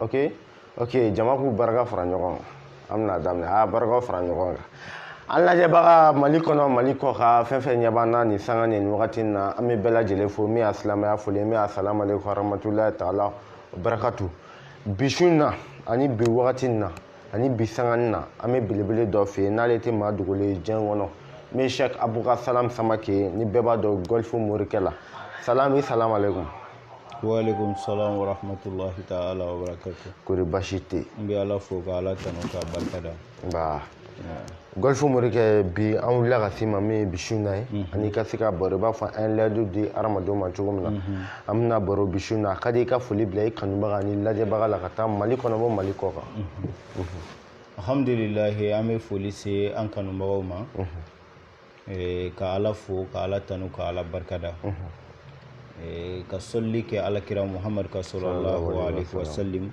ok ok jama k'u barika fara ɲɔgɔn kan an bɛna daminɛ a barikaw fara ɲɔgɔn kan an lajɛbaga mali kɔnɔ mali kɔ kan fɛn fɛn ɲɛ b'an na nin sanga nin wagati in na an bɛ bɛɛ lajɛlen fo min y'a silamɛya foli min y'a salamu aleykum warahmatullahi taala wa barakatu bi su in na ani bi wagati in na ani bi sanga in na an bɛ belebele dɔ fɛ yen n'ale tɛ maa dogolen ye diɲɛ kɔnɔ min sɛk abuka salam samake ni bɛɛ b'a dɔn gɔlifu morikɛ la salam i salamu aleykum waaleykum salaam wa rahmatulahi ta'ala wa barakatu. kori baasi tɛ yen. n bɛ ala fo ka ala tanu k'a barika da. nba gɔlifu morikɛ bi an wulila ka se ma min ye bi su in na ye mhm. ani ka se ka baro i b'a fɔ an ye layidu di hadamadenw ma cogo min na mhm. an bɛna baro bi su in na a ka di i ka foli bila i kanubaga ani lajɛbaga la ka taa mali kɔnɔ bɔ mali kɔ kan. Mhm. alhamdulilahi an bɛ foli se an kanubagaw ma. Ee, ka ala fo ka ala tanu ka ala barika da Ee, ka sɔli kɛ alakira muhamadu kan sɔlɔlahu alaihi wasallim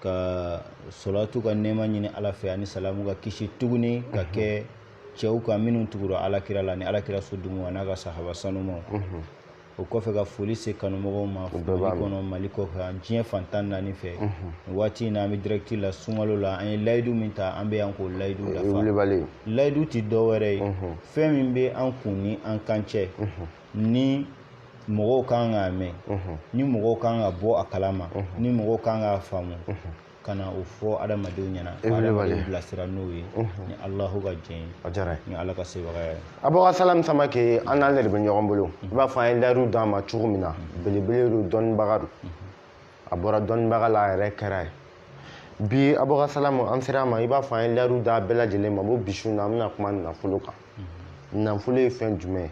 ka sɔlatu ka nɛɛma ɲini ala fɛ ani salamu ka kisi tuguni ka kɛ cɛw kan minnu tugura alakira la ni alakira so dumaa n'a ka sahaba sanumaw o kɔfɛ ka foli se kanumɔgɔw ma mali kɔnɔ mali kɔfɛ ani diɲɛ fan tan naani fɛ waati in na an bɛ direct la sunkalo la an ye layidu min ta an bɛ yan k'o layidu dafa layidu tɛ dɔwɛrɛ ye fɛn min bɛ an kun ni an kan cɛ ni mɔgɔw kan k'a mɛn ni mɔgɔw kan ka bɔ a kalama ni mɔgɔw kan k'a faamu ka na o fɔ adamadenw ɲɛna ka adamadenw bilasira n'o ye ni alahu ka jɛn ye a diyara ye ni ala ka sebaga ye abuka salam samake an n'ale de bɛ ɲɔgɔn bolo i b'a fɔ an ye layidu d'a ma cogo min na belebele don dɔnnibaga don a bɔra dɔnnibaga la a yɛrɛ kɛr'a ye bi abuka salam an sera a ma i b'a fɔ an ye layidu d'a bɛɛ lajɛlen ma ko bi su in na an bɛna kuma nafolo kan nafolo ye fɛn jumɛn ye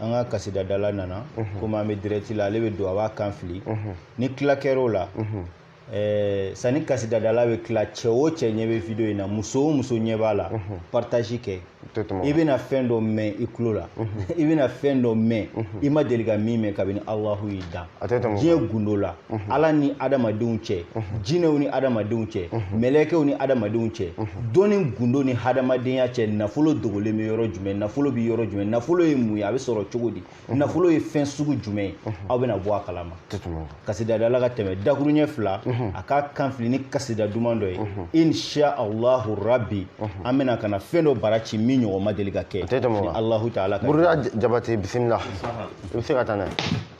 an ka kasidadala nana komi an bɛ direct la ale bɛ don a b'a kan fili ni tila kɛr'o la ɛɛ sanni kasidadala bɛ tila cɛ o cɛ ɲɛ bɛ video in na muso o muso ɲɛ b'a la partage kɛ i bɛna fɛn dɔ mɛn i tulo la i bɛna fɛn dɔ mɛn i ma deli ka min mɛn kabini alahu y'i dan diɲɛ gundo la ala ni adamadenw cɛ jinɛw ni adamadenw cɛ mɛlɛkɛw ni adamadenw cɛ dɔnni gundo ni hadamadenya cɛ nafolo dogolen bɛ yɔrɔ jumɛn nafolo bɛ yɔrɔ jumɛn nafolo ye mun ye a bɛ sɔrɔ cogo di nafolo ye fɛn sugu jumɛn ye aw bɛna bɔ a kalama kasidadala ka tɛmɛ dakuruɲɛ fila a k'a kan fili ni kasida duman dɔ ye insha allahu rabbi an bɛna ka na fɛn dɔ bara ci min ɲɔgɔn ma deli ka kɛ alahu taala ka jabate bisimila i bɛ se ka taa n'a ye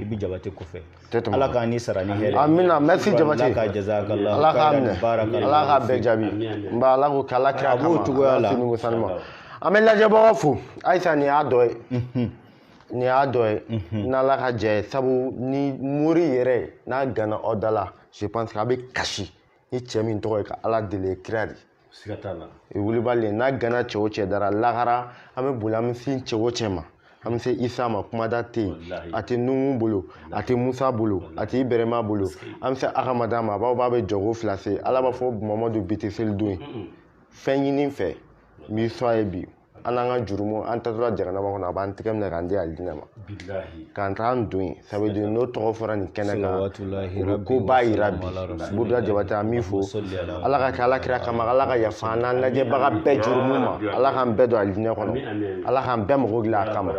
i bɛ jabate kɔfɛ ala k'an ni sara ni hɛrɛ amina merci jabate ala ka jazakala ala k'a minɛ ala k'a bɛɛ jaabi nba ala k'o k'ala kira kama cogoya la an bɛ lajɛbagaw fo halisa nin y'a dɔ ye mhm. nin y'a dɔ ye mhm. n'ala ka jɛ ye sabu ni mori yɛrɛ n'a gana o da la je pense que a bɛ kasi ni cɛ min tɔgɔ ye ka ala deli kira de siga t'a la i wulibali n'a gana cɛ o cɛ da ra lahara an bɛ boli an bɛ sin cɛ o cɛ ma an bɛ se isa ma kumada tɛ yen a tɛ nuhu bolo a tɛ musa bolo a tɛ ibɛrɛma bolo an bɛ se ahamada ma a b'a b'a bɛ jɔko fila se ala b'a fɔ mamadu bi tɛ seli don ye fɛn ɲini n fɛ n b'i sɔn a ye bi an n'an ka jurumu an taatɔla jahanama kɔnɔ a b'an tɛgɛ minɛ k'an di alijinɛ ma k'an t'an don yen ça veut dire n'o tɔgɔ fɔra nin kɛnɛ kan o bɛ ko b'a yira bi buruda jabate an b'i fo ala ka kɛ ala kira kama ala ka yafa an n'an lajɛbaga bɛɛ jurumu ma ala k'an bɛɛ don alijinɛ kɔnɔ ala k'an bɛɛ mago dilan a kama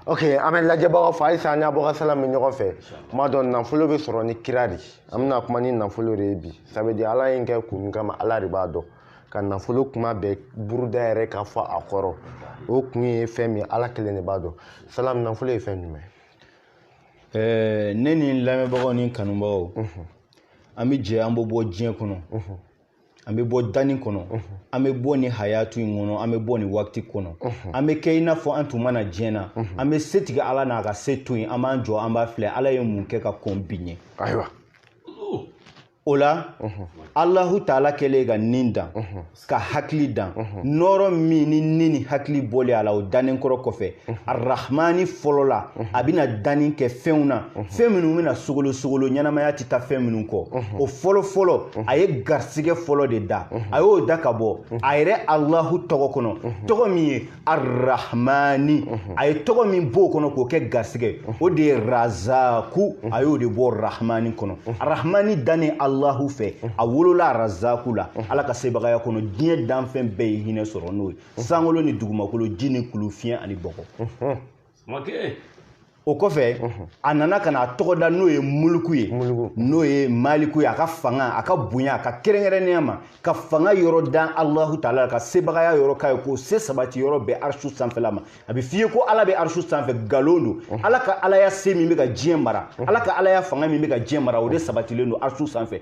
ok an bɛ lajɛbagaw fo halisa an n'abubakar salam bɛ ɲɔgɔn fɛ kuma dɔ nafolo bɛ sɔrɔ ni kira de an bɛna kuma ni nafolo de ye bi sabu ala ye n kɛ kun min kama ala de b'a dɔn ka nafolo kuma bɛɛ buruda yɛrɛ ka fɔ a kɔrɔ o kun ye fɛn min ala kelen de b'a dɔn salam nafolo ye fɛn jumɛn ɛɛ ne ni n lamɛnbagaw ni kanubagaw an bɛ jɛ an bɛ bɔ diɲɛ kɔnɔ an bɛ bɔ danni kɔnɔ an bɛ bɔ nin hayatu in kɔnɔ an bɛ bɔ nin waati kɔnɔ an bɛ kɛ i n'a fɔ an tun ma na diɲɛ na an bɛ setigi ala n'a ka se to yen an b'an jɔ an b'a filɛ ala ye mun kɛ ka kɔn bi ɲɛ ayiwa o la alahu taala kɛlen ka ni dan ka hakili dan nɔɔrɔ min ni ni ni hakili bɔlen a la o dannen kɔrɔ kɔfɛ arahmani fɔlɔ la a bɛna danni kɛ fɛnw na fɛn minnu bɛna sogolo sogolo ɲɛnamaya tɛ taa fɛn minnu kɔ o fɔlɔ fɔlɔ a ye garisigɛ fɔlɔ de dan a y'o dan ka bɔ a yɛrɛ alahu tɔgɔ kɔnɔ tɔgɔ min ye arahmani mhm. a ye tɔgɔ min b'o kɔnɔ k'o kɛ garisɛgɛ mhm. o de ye razaku mhm. a y'o de bɔ rahmani kɔnɔ rahmani dannen alahu fɛ a wolola razaku la ala ka sebagaya kɔnɔ diɲɛ danfɛn bɛɛ ye hinɛ sɔrɔ n'o ye sankolo ni dugumakolo ji ni kulu fiɲɛ ani bɔgɔ o kɔfɛ a nana ka na tɔgɔ dan n'o ye muluku ye n'o ye maliku ye a ka fanga a ka bonya a ka kɛrɛnkɛrɛnnenya ma ka fanga yɔrɔ dan alahu taala ka sebagaya yɔrɔ k'a ye k'o se sabati yɔrɔ bɛn arisu sanfɛla ma a bɛ f'i ye ko ala bɛ arisu sanfɛ nkalon don ala ka alaya se min bɛ ka diɲɛ mara ala ka alaya fanga min bɛ ka diɲɛ mara o de sabatilen don arisu sanfɛ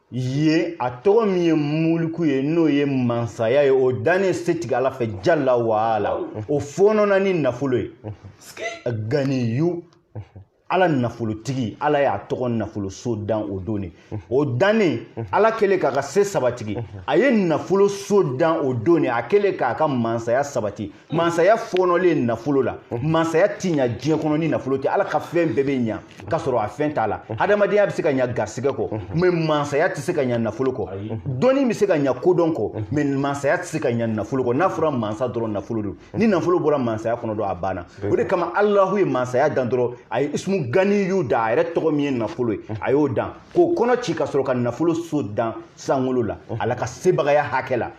ye a tɔgɔ min ye muluku ye n'o ye mansaya ye o dannen setigi ala fɛ jala wa ala o fɔɔnɔna ni nafolo ye ganiyu ala nafolotigi ala y'a tɔgɔ nafoloso dan o don de o dannen ala kɛlen k'a ka se sabatigi a ye nafoloso dan o don de a kɛlen k'a ka mansaya sabati mansaya fɔɔnɔlen nafolo la mansaya ti ɲa diɲɛ kɔnɔ ni nafolo tɛ ala ka fɛn bɛɛ bɛ ɲa ka sɔrɔ a fɛn t'a la hadamadenya bɛ se ka ɲa garisɛgɛ kɔ mais mansaya tɛ se ka ɲa nafolo kɔ dɔnni bɛ se ka ɲa kodɔn kɔ mais mansaya tɛ se ka ɲa nafolo kɔ n'a fɔra mansa dɔrɔn nafolo don ni nafolo bɔra mansaya kɔnɔ dɔrɔn a banna o de kama alahu ye mansaya dan dɔrɔn a ye ismu ganiyyu da a yɛrɛ tɔgɔ min ye nafolo ye a y'o dan k'o kɔnɔ ci ka sɔrɔ ka nafolo so dan sankolo la mhm. ala ka sebagaya hakɛ la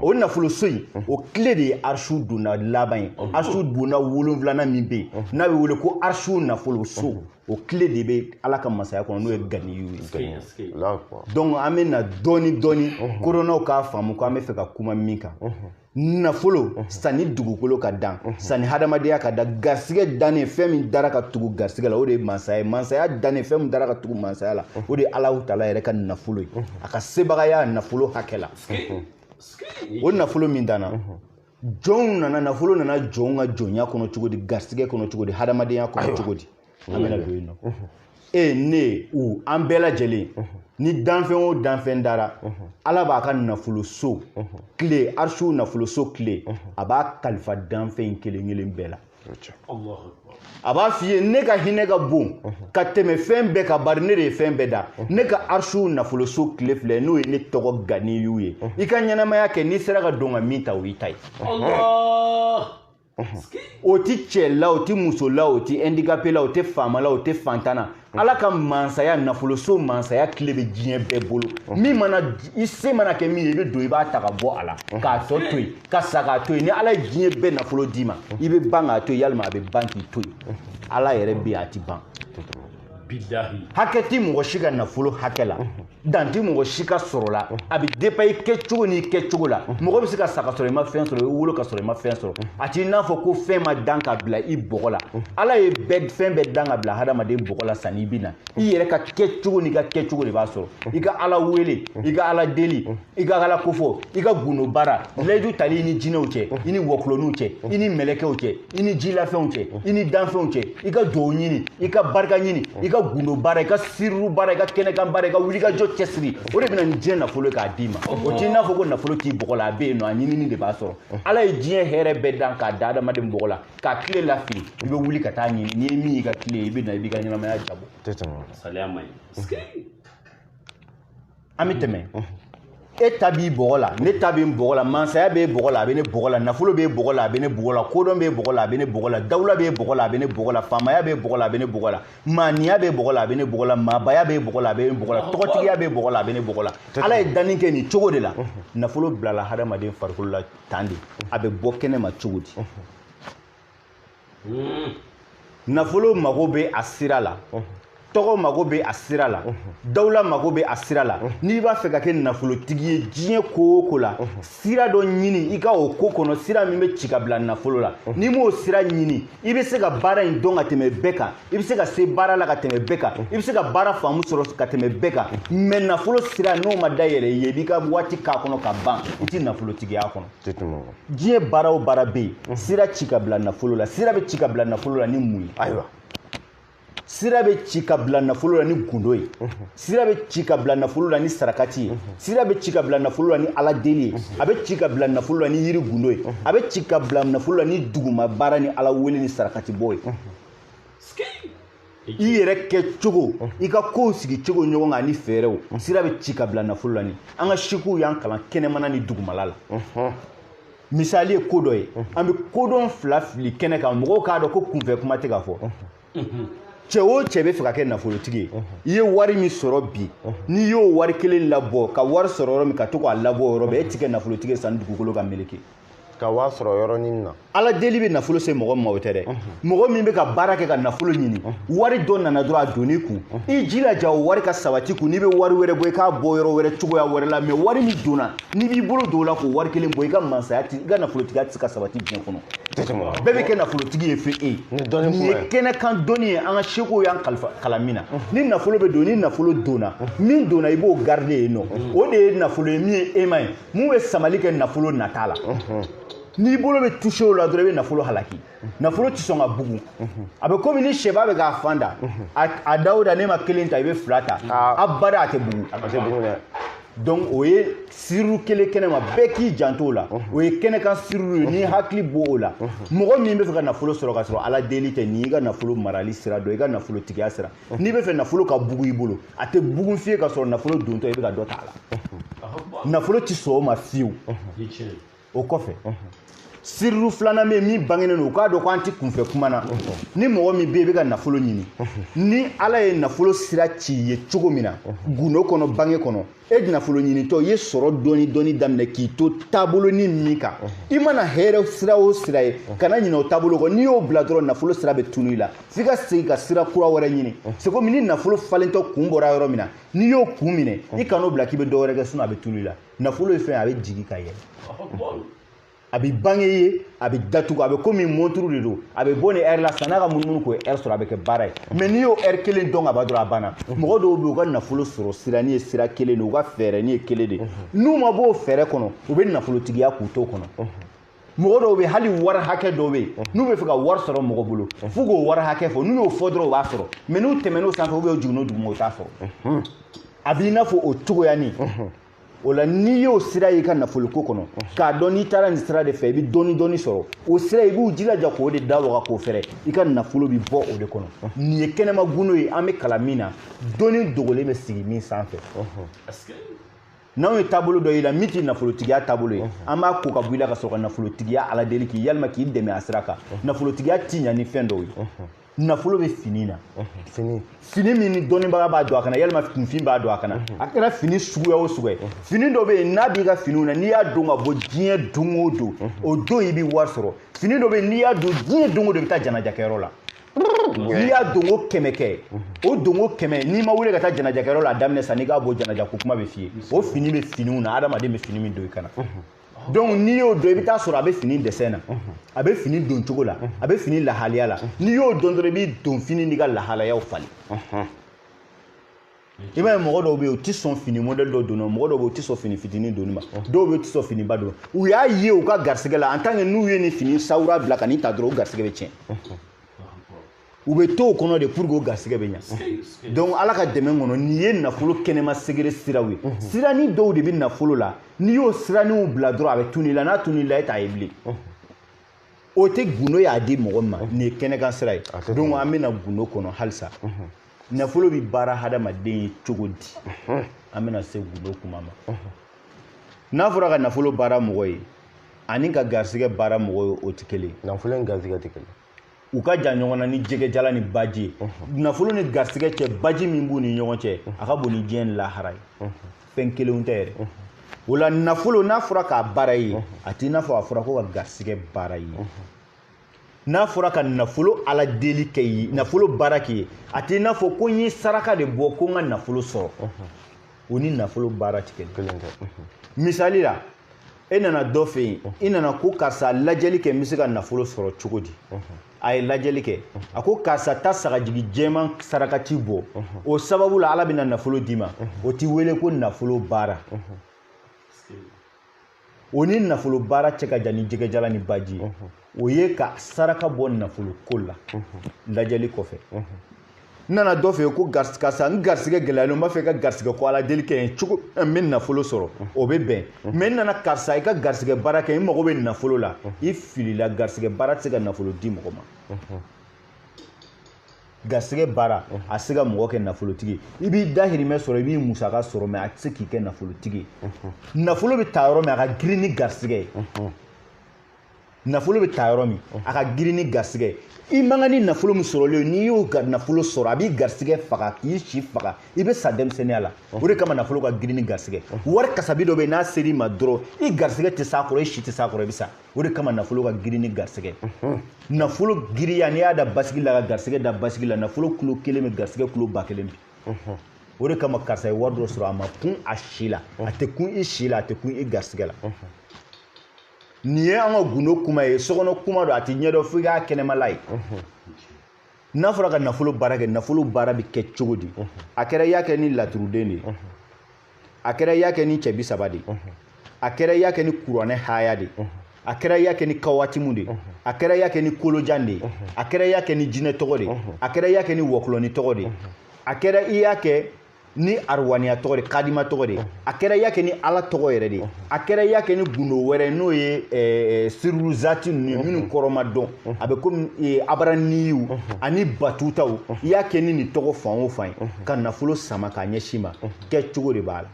o nafolo so in mhm. o kile de ye arshu donda laban ye mhm. arshu donda wolonwulanan min bɛ yen n'a bɛ wele ko arshu nafolo so o kile de bɛ ala ka masaya kɔnɔ n'o ye ganiyu ye donc an bɛ na dɔɔni dɔɔni kodɔnnaw k'a faamu ko an bɛ fɛ ka kuma min kan nafolo mhm. sanni dugukolo ka dan mhm. sanni hadamadenya ka dan garisigɛ dannen fɛn min dara ka tugu garisigɛ la o de ye mansaya ye mansaya dannen fɛn min dara ka tugu mansaya la mhm. o de ye alahu taala yɛrɛ ka nafolo ye a ka sebagaya nafolo hakɛ la o nafolo min danna jɔnw nana nafolo nana jɔnw ka jɔnya kɔnɔ cogo di garisigɛ kɔnɔ cogo di hadamadenya kɔnɔ cogo di an bɛna don yen nɔ e ne u an bɛɛ lajɛlen ni danfɛn o danfɛn dara ala b'a ka nafoloso kile arshu nafoloso kile a b'a kalifa danfɛn kelen kelen bɛɛ la a b'a f'i ye ne ka hinɛ ka bon ka tɛmɛ fɛn bɛɛ kan bari ne de ye fɛn bɛɛ dan ne ka arshu nafoloso kile filɛ n'o ye ne tɔgɔ ganiyu ye i ka ɲɛnamaya kɛ n'i sera ka don ka min ta o y'i ta ye o ti cɛ la o ti muso la o ti handicapé la o tɛ faama la o tɛ fantan na ala ka mansaya nafoloso mansaya kile bɛ diɲɛ bɛɛ bolo min mana i se mana kɛ min ye i bɛ don i b'a ta ka bɔ a la k'a tɔ to yen ka sa k'a to yen ni ala ye diɲɛ bɛɛ nafolo d'i ma i bɛ ban k'a to yen yalima a bɛ ban k'i to yen ala yɛrɛ bɛ yen a ti ban hakɛ ti mɔgɔ si ka nafolo hakɛ la dan ti mɔgɔ si ka sɔrɔ la a bɛ dépend i kɛcogo n'i kɛcogo la mɔgɔ bɛ se ka sa ka sɔrɔ i ma fɛn sɔrɔ i wolo ka sɔrɔ i ma fɛn sɔrɔ a t'i n'a fɔ ko fɛn ma dan ka bila i bɔgɔ la ala ye bɛɛ fɛn bɛɛ dan ka bila hadamaden bɔgɔ la sanni i bɛ na i yɛrɛ ka kɛcogo n'i ka kɛcogo de b'a sɔrɔ i ka ala wele i ka ala deli i ka ala kofɔ i ka gundo baara layidu tali i ni jinɛw cɛ i ni wɔkulɔninw cɛ i ni mɛlɛkɛw cɛ i ni jilafɛnw cɛ i ni danfɛnw cɛ i ka duwawu ɲini i ka barika ɲini i ka gundo baara i ka siriru baara i ka kɛnɛkan baara i ka wulikajɔ cɛsiri o de bɛ na ni diɲɛ nafolo k'a d'i ma o t'i n'a fɔ ko nafolo t'i bɔgɔ la a bɛ yen nɔ a ɲinini de b'a sɔrɔ ala ye diɲɛ hɛrɛ bɛɛ dan k'a da adamaden bɔgɔ la k'a kile lafili i bɛ wuli ka t'a ɲini n'i ye min y'i ka kile ye i bɛ na i b'i ka ɲɛnamaya diyabɔ saliya man ɲi an bɛ tɛmɛ e ta b'i bɔgɔ la ne ta bɛ n bɔgɔ la mansaya b'e bɔgɔ la a bɛ ne bɔgɔ la nafolo b'e bɔgɔ la a bɛ ne bɔgɔ la kodɔn b'e bɔgɔ la a bɛ ne bɔgɔ la dawula b'e bɔgɔ la a bɛ ne bɔgɔ la faamaya b'e bɔgɔ la a bɛ ne bɔgɔ la maaniya b'e bɔgɔ la a bɛ ne bɔgɔ la maabaya b'e bɔgɔ la a bɛ ne bɔgɔ la tɔgɔtigiya b'e bɔgɔ la a bɛ ne bɔgɔ la ala ye danni kɛ nin cogo de la nafolo bilala hadamaden farikolo la tan de a bɛ bɔ kɛnɛ ma cogo di hmm. nafolo mago bɛ a sira la tɔgɔ mago bɛ a sira la dawula mago bɛ a sira la n'i b'a fɛ ka kɛ nafolotigi ye diɲɛ ko o ko la sira dɔ ɲini i ka o ko kɔnɔ sira min bɛ ci ka bila nafolo la n'i m'o sira ɲini i bɛ se ka baara in dɔn ka tɛmɛ bɛɛ kan i bɛ se ka se baara la ka tɛmɛ bɛɛ kan i bɛ se ka baara faamu sɔrɔ ka tɛmɛ bɛɛ kan mɛ nafolo sira n'o ma dayɛlɛ i ye i b'i ka waati k'a kɔnɔ ka ban i tɛ nafolotigiya kɔnɔ diɲɛ baara o baara bɛ yen sira ci ka bila nafolo la sira bɛ ci ka bila nafolo la ni mun ye ayiwa sira bɛ ci ka bila nafolo la ni gundo ye sira bɛ ci ka bila nafolo la ni sarakati ye sira bɛ ci ka bila nafolo la ni ala deli ye a bɛ ci ka bila nafolo la ni yiri gundo ye a bɛ ci ka bila nafolo la ni duguma baara ni ala wele ni sarakati bɔ ye i yɛrɛ kɛ cogo i ka kow sigi cogo ɲɔgɔn kan ani fɛɛrɛw sira bɛ ci ka bila nafolo la ni an ka sikuw y'an kalan kɛnɛmana ni dugumala la misali ye ko dɔ ye an bɛ ko dɔ fila fili kɛnɛ kan mɔgɔw k'a dɔn ko kunfɛ kuma tɛ ka fɔ cɛ o cɛ bɛ fɛ ka kɛ nafolotigi ye i ye wari min sɔrɔ bi n'i y'o wari kelen labɔ ka wari sɔrɔ yɔrɔ min ka to k'a labɔ yɔrɔ bɛɛ e ti kɛ nafolotigi ye sanni dugukolo ka meleke ka wari sɔrɔ yɔrɔnin na ala deli bɛ nafolo se mɔgɔ ma o tɛ dɛ mɔgɔ min bɛ ka baara kɛ ka nafolo ɲini wari dɔ nana dɔrɔn a donni kun i jilaja o wari ka sabati kun n'i bɛ wari wɛrɛ bɔ i k'a bɔ yɔrɔ wɛrɛ cogoya wɛrɛ la mɛ wari min donna n'i b'i bolo don o la k'o wari kelen bɔ i ka mansaya i ka nafolotigiya tɛ se ka sabati diɲɛ kɔnɔ bɛɛ bɛ kɛ nafolotigi ye fo e nin ye kɛnɛ kan dɔnni ye an ka sikuw y'an kalan min na ni nafolo bɛ don ni nafolo donna min donna i b'o garide yen nɔ o de ye nafolo ye min ye aimant ye min bɛ samali kɛ nafolo nata la n'i bolo bɛ touché o la dɔrɔn i bɛ nafolo halaki nafolo tɛ sɔn ka bugun a bɛ komi ni sɛba bɛ k'a fan da a da o da n'e ma kelen ta i bɛ fila ta abada a tɛ bugun dɛ donc o ye siriru kelen kɛnɛ ma bɛɛ k'i janto o la o ye kɛnɛ kan siriru ye n'i hakili b'o la mɔgɔ min bɛ fɛ ka nafolo sɔrɔ ka sɔrɔ ala deli tɛ nin y'i ka nafolo marali sira dɔ i ka nafolotigiya sira n'i bɛ fɛ nafolo ka bugun i bolo a tɛ bugun fiye ka sɔrɔ nafolo dontɔ i bɛ ka dɔ ta a la nafolo tɛ sɔn o ma fiyewu o kɔfɛ siriru filanan bɛ yen min bangenen don u k'a dɔn ko an tɛ kunfɛ kuma na ni mɔgɔ min bɛ yen i bɛ ka nafolo ɲini ni ala ye nafolo sira ci i ye cogo min na gundo kɔnɔ bange kɔnɔ e nafolo ɲinitɔ i ye sɔrɔ dɔɔni dɔɔni daminɛ k'i to taabolonin min kan i mana hɛrɛ sira o sira ye kana ɲinɛ o taabolo kɔ n'i y'o bila dɔrɔn nafolo sira bɛ tunu i la f'i ka segin ka sira kura wɛrɛ ɲini c'est comme ni nafolo falentɔ kun bɔra yɔrɔ min na n'i y'o kun minɛ i kan'o bila k'i bɛ dɔ wɛrɛ kɛ sinon a bɛ tunu i la nafolo ye fɛn ye a bɛ jigin ka yɛlɛ a bɛ bange ye a bɛ datugu a bɛ komi monturu de don a bɛ bɔ ni ɛri la sanni a ka munumunu k'o ɛri sɔrɔ a bɛ kɛ baara ye mɛ n'i y'o ɛri kelen dɔn ka ban dɔrɔn a banna mɔgɔ dɔw bɛ yen u ka nafolo sɔrɔ sira ni ye sira kelen de u ka fɛɛrɛ ni ye kelen de n'u ma b'o fɛɛrɛ kɔnɔ u bɛ nafolotigiya k'u to kɔnɔ mɔgɔ dɔw bɛ yen hali wari hakɛ dɔw bɛ yen n'u b'a fɛ ka wari sɔrɔ mɔgɔ bolo f'u k'o wari hakɛ fɔ n'u y'o fɔ dɔrɔn u b'a sɔrɔ mɛ n'u tɛmɛn'o sanfɛ ou bien jiginn'o duguma u t'a sɔrɔ a b'i n'a fɔ o cogoyanin o la n'i y'o sira y'i ka nafoloko kɔnɔ k'a dɔn n'i taara nin sira de fɛ i bɛ dɔɔni dɔɔni sɔrɔ o sira i b'u jilaja k'o de da waga k'o fɛrɛ i ka nafolo bɛ bɔ o de kɔnɔ nin ye kɛnɛma gundo ye an bɛ kalan min na dɔnni dogolen bɛ sigi min sanfɛ n'anw ye taabolo dɔ y'i la min ti nafolotigiya taabolo ye an b'a ko ka bɔ i la ka sɔrɔ ka nafolotigiya ala deli k'i ye walima k'i dɛmɛ a sira kan nafolotigiya ti ɲa ni fɛn dɔw ye nafolo bɛ fini na fini fini min ni dɔnnibaga b'a don a kan na walima kunfin b'a don a kan na a kɛra fini suguya o suguya fini dɔ bɛ yen n'a b'i ka finiw na n'i y'a don ka bɔ diɲɛ don o don o don i bɛ wari sɔrɔ fini dɔ bɛ yen n'i y'a don diɲɛ don o don i bɛ taa janajakɛyɔrɔ la n'i y'a donko kɛmɛ kɛ o donko kɛmɛ n'i ma wuli ka taa janajakɛyɔrɔ la a daminɛ sann'i k'a bɔ janajako kuma bɛ f'i ye o fini bɛ finiw na adamaden bɛ fini min don i kan na donc n'i y'o dɔn i bɛ t'a sɔrɔ a bɛ fini dessin na a bɛ fini don cogo la a bɛ fini lahaliya la n'i y'o dɔn dɔrɔn i b'i donfini n'i ka lahalayaw falen i b'a ye mɔgɔ dɔw bɛ yen u tɛ sɔn fini modɛli dɔ donni ma mɔgɔ dɔw bɛ yen u tɛ sɔn fini fitinin donni ma dɔw bɛ yen u tɛ sɔn finiba donni ma u y'a ye u ka garisɛgɛ la en tant que n'u ye nin fini sawura bila ka nin ta dɔrɔn u garisɛgɛ bɛ tiɲɛ u bɛ to o kɔnɔ de pour que o garisɛgɛ bɛ ɲa donc ala ka dɛmɛ kɔnɔ nin ye nafolo kɛnɛma segere siraw ye mhm. sirani dɔw de bɛ nafolo la n'i y'o siraniw bila dɔrɔn a bɛ tunu i la n'a tunu i la e t'a ye bilen mhm. o tɛ gundo y'a di mɔgɔ ma mhm. nin ye kɛnɛkan sira ye donc an bɛ na gundo kɔnɔ halisa nafolo bɛ baara hadamaden ye cogo di an bɛna se gundo kuma ma n'a fɔra ka nafolo baara mɔgɔ ye ani ka garisɛgɛ baara mɔgɔ ye o tɛ kelen nafolo ni garisɛgɛ tɛ kelen u ka jan ɲɔgɔn na ni jɛgɛjala ni baji ye nafolo ni garisigɛ cɛ baji min b'u ni ɲɔgɔn cɛ a ka bon ni diɲɛ ni lahara ye fɛn kelenw tɛ yɛrɛ o la nafolo n'a fɔra k'a baara ye a t'i n'a fɔ a fɔra ko ka garisigɛ baara ye n'a fɔra ka nafolo ala deli k'i ye nafolo baara k'i ye a t'i n'a fɔ ko n ye saraka de bɔ ko n ka nafolo sɔrɔ o ni nafolo baara ti kelen misali la e nana dɔ fɛ yen i nana ko karisa lajɛli kɛ n bɛ se ka nafolo sɔrɔ cogo di a ye lajɛli kɛ a ko karisa taa sagajigi jɛman sarakati bɔ o sababu la ala bɛna nafolo d'i ma o tɛ wele ko nafolo baara o ni nafolo baara cɛ ka jan ni jɛgɛjala ni baji ye o ye ka saraka bɔ nafolo ko la lajɛli kɔfɛ n nana dɔ fɛ yen ko karisa n garisigɛ gɛlɛyalen n b'a fɛ i ka garisigɛ ko ala deli kɛ n ye cogo n bɛ nafolo sɔrɔ o bɛ bɛn mɛ n nana karisa i ka garisigɛ baara kɛ n mago bɛ nafolo la i filila garisigɛ baara tɛ se ka nafolo di mɔgɔ ma garisigɛ baara a se ka mɔgɔ kɛ nafolotigi i b'i dahirimɛ sɔrɔ i b'i musaka sɔrɔ mɛ a tɛ se k'i kɛ nafolotigi nafolo bɛ ta yɔrɔ min a ka girin ni garisigɛ ye nafolo bɛ ta yɔrɔ min a ka girin ni garisɛgɛ i man kan ni nafolo min sɔrɔlen n'i y'o nafolo sɔrɔ a b'i garisɛgɛ faga k'i si faga i bɛ sa denmisɛnninya la o de kama nafolo ka girin ni garisɛgɛ wari kasabi dɔ bɛ yen n'a ser'i ma dɔrɔn i garisɛgɛ tɛ s'a kɔrɔ i si tɛ s'a kɔrɔ i bɛ sa o de kama nafolo ka girin ni garisɛgɛ nafolo giriya n'i y'a da basikili la ka garisɛgɛ da basikili la nafolo kilo kelen bɛ garisɛgɛ kilo ba kelen bin o de kama karisa ye wari dɔ sɔrɔ a ma kun a si la a tɛ kun i si la a tɛ kun i garisɛgɛ la nin ye an ka gundo kuma ye sokɔnɔ kuma don a tɛ ɲɛdɔn fo i k'a kɛnɛmala ye n'a fɔra ka nafolo baara kɛ nafolo baara bɛ kɛ cogo di a kɛra i y'a kɛ ni laturuden de ye a kɛra i y'a kɛ ni cɛ bi saba de ye a kɛra i y'a kɛ ni kuranɛ haya de ye a kɛra i y'a kɛ ni kawatimu de ye a kɛra i y'a kɛ ni kolojan de ye a kɛra i y'a kɛ ni jinɛ tɔgɔ de ye a kɛra i y'a kɛ ni wɔkulɔni tɔgɔ de ye a kɛra i y'a kɛ ni arwaniya tɔgɔ de kadima tɔgɔ de a kɛra i y'a kɛ ni ala tɔgɔ yɛrɛ de a kɛra i y'a kɛ ni gundo wɛrɛ n'o ye eh, sirulu zati ninnu minnu kɔrɔ ma dɔn a bɛ komi eh, abaraniyiw ani batutaw i y'a kɛ ni nin tɔgɔ fan o fan ye ka nafolo sama k'a ɲɛsin i ma kɛcogo de b'a la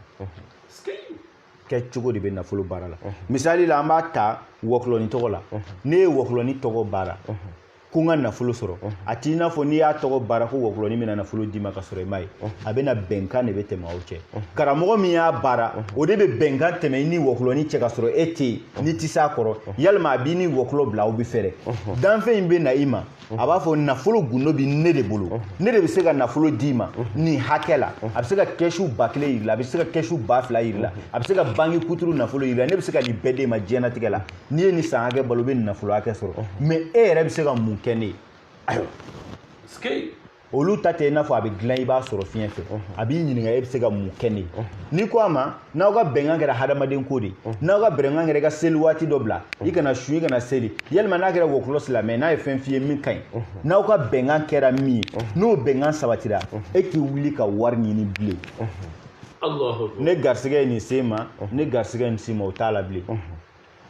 kɛcogo de bɛ nafolo baara la misali la an b'a ta wɔkulɔni tɔgɔ la ne ye wɔkulɔni tɔgɔ baara ko n ka nafolo sɔrɔ a t'i n'a fɔ n'i y'a tɔgɔ baara ko wɔkulɔni bɛna nafolo d'i ma ka sɔrɔ i m'a ye a bɛna bɛnkan de bɛ tɛmɛ aw cɛ karamɔgɔ min y'a baara o de bɛ bɛnkan tɛmɛ i ni wɔkulɔni cɛ ka sɔrɔ e tɛ yen n'i tɛ s'a kɔrɔ yalima a b'i ni wɔkulɔ bila aw bɛ fɛɛrɛ danfɛn in bɛ na i ma a b'a fɔ nafolo gundo bɛ ne de bolo ne de bɛ se ka nafolo d'i ma nin hakɛ la a bɛ se ka kɛsu ba kelen yir'i la a bɛ se ka kɛsu ba fila yir'i la a bɛ se ka banki kuturu nafolo yir'i la ne bɛ se ka nin bɛɛ d'e ma diɲɛnatigɛ la n'i ye nin san hakɛ balo i bɛ nin nafolo hakɛ sɔrɔ mɛ e yɛrɛ bɛ se ka mun kɛ ne ye ayiwa olu ta tɛ i n'a fɔ a bɛ dilan i b'a sɔrɔ fiɲɛ fɛ a b'i ɲininka e bɛ se ka mun kɛ ne ye n'i ko a ma n'aw ka bɛnkan kɛra hadamaden ko de n'aw ka bɛnkan kɛra i ka seli waati dɔ bila i kana sun i kana seli yalima n'a kɛra wɔkulɔ silamɛ n'a ye fɛn f'i ye min ka ɲi n'aw ka bɛnkan kɛra min ye n'o bɛnkan sabatira e k'i wuli ka wari ɲini bilen ne garisigɛ ye nin se n ma ne garisigɛ ye nin se n ma o t'a la bilen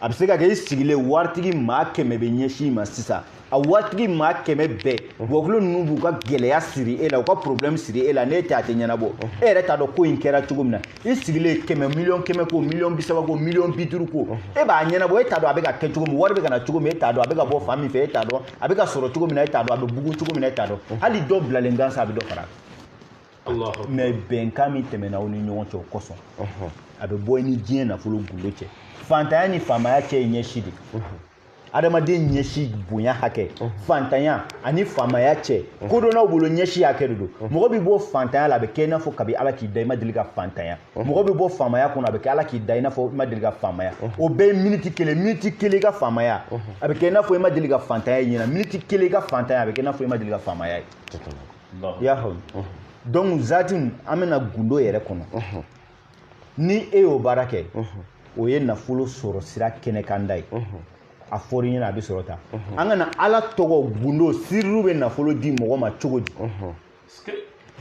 a bɛ se ka kɛ i sigilen waritigi maa kɛmɛ bɛ ɲɛsin i ma sisan a waritigi maa kɛmɛ bɛɛ bɔkolo ninnu b'u ka gɛlɛya siri e la u ka problème siri e la n'e tɛ a tɛ ɲɛnabɔ e yɛrɛ t'a dɔn ko in kɛra cogo min na i sigilen kɛmɛ miliyɔn kɛmɛ ko miliyɔn bi saba ko miliyɔn bi duuru ko e b'a ɲɛnabɔ e t'a dɔn a bɛ ka kɛ cogo min wari bɛ ka na cogo min e t'a dɔn a bɛ ka bɔ fan min fɛ e t'a dɔn a bɛ ka sɔrɔ cogo min na e t'a dɔn a bɛ bugun cogo min na e t'a dɔn hali dɔ bilalen gansan a bɛ dɔ fara mais bɛnkan min tɛmɛna aw ni ɲɔgɔn cɛ o kosɔn a bɛ bɔ i ni diɲɛ nafolo gundo cɛ fantanya ni faamaya cɛ ye ɲɛsi de adamaden ɲɛsi bonya hakɛ fantanya ani faamaya cɛ kodɔnnaw bolo ɲɛsi hakɛ de don mɔgɔ bɛ bɔ fantanya la a bɛ kɛ i n'a fɔ kabi ala k'i da i ma deli ka fantanya mɔgɔ bɛ bɔ faamaya kɔnɔ a bɛ kɛ ala k'i da i n'a fɔ i ma deli ka faamaya o bɛɛ ye miniti kelen miniti kelen i ka faamaya a bɛ kɛ i n'a fɔ i ma deli ka fantanya ye ɲɛna miniti kelen i ka fantanya a bɛ kɛ i n'a fɔ i ma deli ka faamaya ye i y'a faamu donc zati an bɛ na gundo yɛrɛ kɔnɔ ni e y'o baara kɛ o ye nafolo sɔrɔ sira kɛnɛkanda ye a fɔr'i ɲɛna a bɛ sɔrɔ tan an ka na ala tɔgɔ gundo siriw bɛ nafolo di mɔgɔ ma cogo di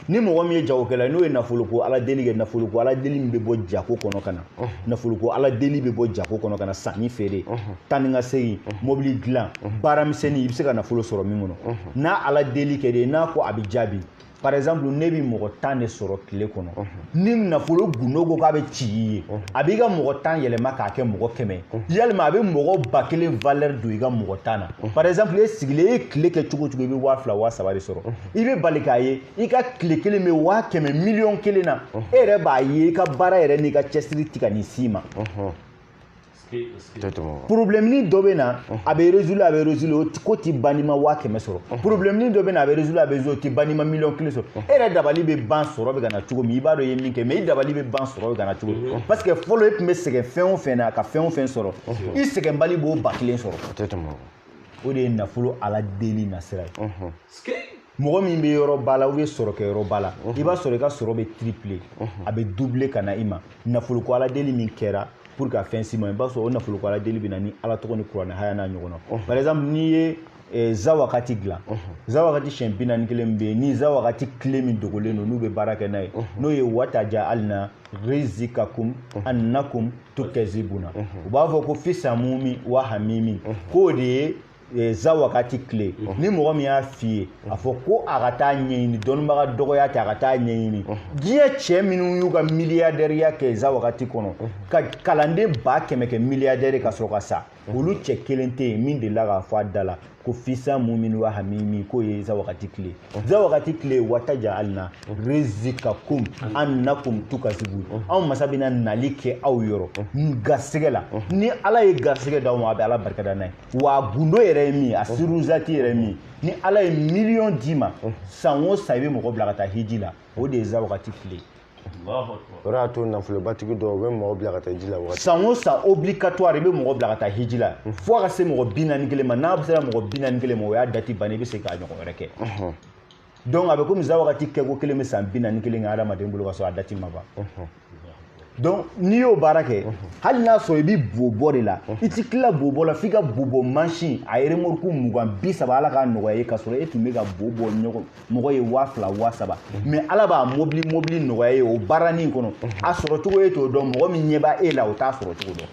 ni mɔgɔ min ye jagokɛla n'o ye nafolo ko ala deli kɛ nafolo ko ala deli min bɛ bɔ jago kɔnɔ ka na nafolo ko ala deli bɛ bɔ jago kɔnɔ ka na sanni feere taa ni ka segin mobili dilan baara misɛnnin i bɛ se ka nafolo sɔrɔ min kɔnɔ n'a ala deli kɛ de n'a ko a bɛ jaabi par exemple ne bɛ mɔgɔ tan de sɔrɔ tile kɔnɔ ni nafolo gundo ko k'a bɛ ci i ye a b'i ka mɔgɔ tan yɛlɛma k'a kɛ mɔgɔ kɛmɛ ye walima a bɛ mɔgɔ ba kelen valeur don i ka mɔgɔ tan na par exemple e sigilen e ye tile kɛ cogo o cogo i bɛ waa fila waa saba de sɔrɔ i bɛ bali k'a ye i ka tile kelen bɛ waa kɛmɛ miliyɔn kelen na e yɛrɛ b'a ye i ka baara yɛrɛ n'i ka cɛsiri ti ka nin s'i ma problèmenin dɔ bɛ na a bɛ résoudre a bɛ résoudre o ko ti ban n'i ma waa kɛmɛ sɔrɔ problèmenin dɔ bɛ na a bɛ résoudre a bɛ résoudre o ti ban n'i ma miliyɔn kelen sɔrɔ e yɛrɛ dabali bɛ ban sɔrɔ bɛ ka na cogo min i b'a dɔn i ye min kɛ mais i dabali bɛ ban sɔrɔ bɛ ka na cogo min parce que fɔlɔ e tun bɛ sɛgɛn fɛn o fɛn na ka fɛn o fɛn sɔrɔ i sɛgɛnbali b'o ba kelen sɔrɔ o de ye nafolo ala deli nasira ye mɔgɔ min bɛ yɔrɔ ba la ou bien sɔrɔ kɛ yɔrɔ ba la i b'a sɔrɔ i ka sɔrɔ bɛ tripler a bɛ doubler ka na i ma nafolo ko ala deli min kɛra pour ka fɛn s'i ma i b'a sɔrɔ o nafolo ko ala deli bɛ na ni ala tɔgɔ ni kuranɛ haya n'a ɲɔgɔnna par exemple n'i ye Eh, zawakati dilan zawakati siɲɛ bi naani ni kelen bɛ yen ni zawakati kile min dogolen don n'u bɛ baara kɛ n'a ye n'o ye wataja alina rizikakum annakum tukɛzibuna u b'a fɔ ko fi samumi wa hamimi k'o de ye e, zawakati kile ni mɔgɔ min y'a f'i ye a fɔ ko a ka taa ɲɛɲini dɔnnibaga dɔgɔya tɛ a ka taa ɲɛɲini diɲɛ cɛ minnu y'u ka miliyadɛriya kɛ zawakati kɔnɔ ka kalanden ba kɛmɛ kɛ miliyadɛri ka sɔrɔ ka sa olu cɛ kelen tɛ yen min delila k'a fɔ a da la ko fi samumin wa hamimi k'o ye zawakati kile zawakati kile wataja alina rizikakum annakum tukazibun anw masa bɛna nali kɛ aw yɔrɔ garisɛgɛ la ni ala ye garisɛgɛ d'aw ma a bɛ ala barikada n'a ye wa a gundo yɛrɛ ye min a siruzati yɛrɛ ye min ni ala ye miliyɔn d'i ma san o san i bɛ mɔgɔ bila ka taa hiji la o de ye zawakati kile o de y'a to nafolobatigi dɔw u bɛ mɔgɔ bila ka taa hiji la waati san o san obligatoire i bɛ mɔgɔ bila ka taa hiji la fo a ka se mɔgɔ bi naani kelen ma n'a sera mɔgɔ bi naani kelen ma o y'a dati bannen i bɛ se k'a ɲɔgɔn wɛrɛ kɛ donc a bɛ komi zawakati kɛko kelen bɛ san bi naani kelen kɛ hadamaden bolo ka sɔrɔ a dati ma ban donc n'i y'o baara kɛ hali n'a sɔrɔ i bɛ bobɔ de la i ti tila bobɔ la f'i ka bobɔ mansin a ye remorque mugan bi saba ala k'a nɔgɔya ye ka sɔrɔ e tun bɛ ka bobɔ ɲɔgɔn mɔgɔ ye waa fila waa saba mais mhm. ala b'a mobili mobili nɔgɔya ye o baaranin kɔnɔ mhm. a sɔrɔ cogo ye t'o dɔn mɔgɔ min ɲɛ b'a e la o t'a sɔrɔ cogo dɔn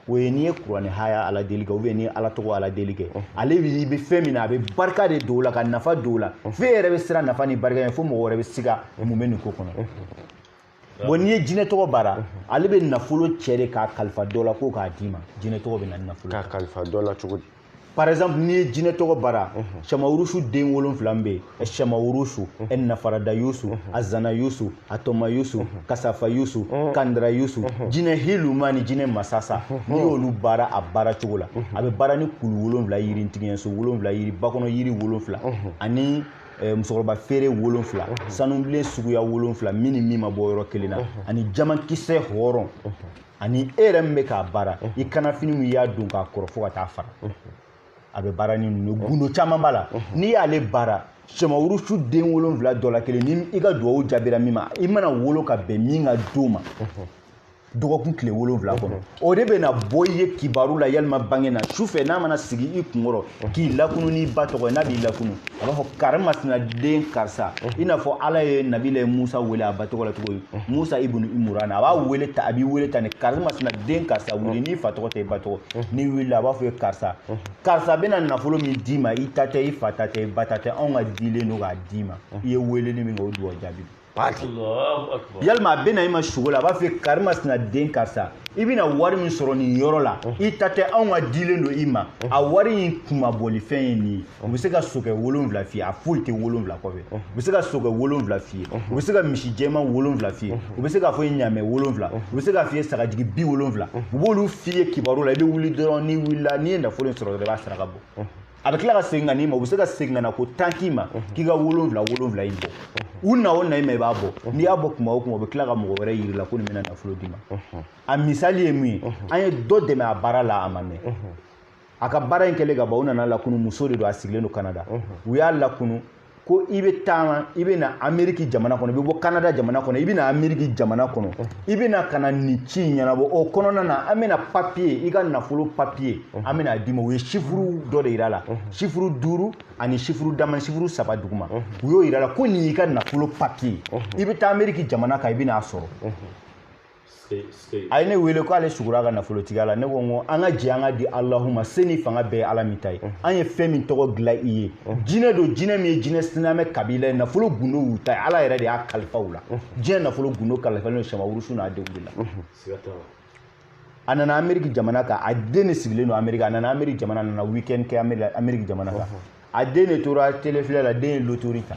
o ye n'i ye kuranɛ haya ala deli kɛ ou bien n'i ye ala tɔgɔ ala deli kɛ ale i bɛ fɛn min na a bɛ barika de don o la ka nafa don o la f'e yɛrɛ bɛ siran nafa ni barika ye fo mɔgɔ wɛrɛ bɛ siga mun bɛ nin ko kɔnɔ bon n'i ye jinɛ tɔgɔ baara ale bɛ nafolo cɛ de k'a kalifa dɔ la ko k'a d'i ma jinɛ tɔgɔ bɛ na ni nafolo k'a kalifa dɔ la cogo di par exemple n'i ye jinɛ tɔgɔ baara shamawurusu den wolonfila min bɛ yen shamawurusu nafarada yusu azana yusu atɔma yusu kasafa yusu kandira yusu jinɛ hiluma ni jinɛ masasa n'i y'olu baara a baara cogo la a bɛ baara ni kulu wolonfila yiri ntigiɲɛso wolonfila yiri bakɔnɔ yiri wolonfila ani eh, musokɔrɔba feere wolonfila sanubilen suguya wolonfila min ni min ma bɔ yɔrɔ kelen na ani jamankisɛ hɔrɔn ani e yɛrɛ min bɛ k'a baara i kannafini min i y'a don k'a kɔrɔ fo ka taa fara a bɛ baara ni ninnu gundo caman b'a la n'i y'ale baara shamawurusu den wolonfila dɔ la kelen ni i ka duwawu jaabira min ma i mana wolo ka bɛn min ka don ma dɔgɔkun tile wolonfila kɔnɔ o de bɛna bɔ i ye kibaru la yalima bange na su fɛ n'a mana sigi i kunkɔrɔ k'i lakunu n'i ba tɔgɔ ye n'a b'i lakunu a b'a fɔ kari masina den karisa i n'a fɔ ala ye nabila musa wele a ba tɔgɔ la cogo ye musa ibunu imurana a b'a wele tan a b'i wele tan ni kari masina den karisa wuli n'i fa tɔgɔ tɛ i ba tɔgɔ n'i wulila a b'a fɔ ye karisa karisa bɛna nafolo min d'i ma i ta tɛ i fa ta tɛ i ba ta tɛ anw ka dilen don k'a d'i ma i ye weleli min kɛ o dugawu jaabi yalima a bɛna i ma sugo la a b'a fɔ kari masina den karisa i bɛna wari min sɔrɔ nin yɔrɔ la i ta tɛ anw ka dilen don i ma a wari in kunmabɔlifɛn ye nin ye u bɛ se ka sokɛ wolonfila f'i ye a foyi tɛ wolonfila kɔfɛ u bɛ se ka sokɛ wolonfila f'i ye u bɛ se ka misi jɛman wolonfila f'i ye u bɛ se k'a fɔ i ɲamɛ wolonfila u bɛ se k'a f'i ye sagajigi bi wolonfila u b'olu f'i ye kibaru la i bɛ wuli dɔrɔn n'i wulila n'i ye nafolo in sɔrɔ dɔrɔn i b'a saraka bɔ a bɛ tila ka segin ka n'i ma u bɛ se ka segin ka na ko tan k'i ma k'i ka wolonwula wolonwula in bɔ u na o na i ma i b'a bɔ n'i y'a bɔ kuma o kuma u bɛ tila ka mɔgɔ wɛrɛ yir'i la ko nin bɛna nafolo d'i ma a misali ye mun ye an ye dɔ dɛmɛ a baara la a ma mɛn a ka baara in kɛlen ka ban u nana lakunu muso de don a sigilen don kanada u y'a lakunu ko i bɛ taama i bɛ na ameriki jamana kɔnɔ i bɛ bɔ kanada jamana kɔnɔ i bɛ na ameriki jamana kɔnɔ i bɛ na ka na nin ci in ɲɛnabɔ o kɔnɔna na an bɛna papiye i ka nafolo papiye an bɛna a d'i ma u ye sifuru dɔ de yira la sifuru duuru ani sifuru dama sifuru saba duguma u y'o yira la ko nin y'i ka nafolo papiye i bɛ taa ameriki jamana kan i bɛ n'a sɔrɔ a ye ne wele ko ale sugura ka nafolotigiya la ne ko n ko an ka jɛ an k'a di alahu ma se ni fanga bɛɛ ye ala min ta ye an ye fɛn min tɔgɔ dilan i ye jinɛ don jinɛ min ye jinɛ silamɛ kabila ye nafolo gundo y'u ta ye ala yɛrɛ de y'a kalifa u la diɲɛ nafolo gundo kalifalen don samawurusu n'a denw de la a nana ameriki jamana kan a den de sigilen don ameriki a nana ameriki jamana nana weekend kɛ ameriki jamana kan a den de tora tele filɛ la den ye lotori ta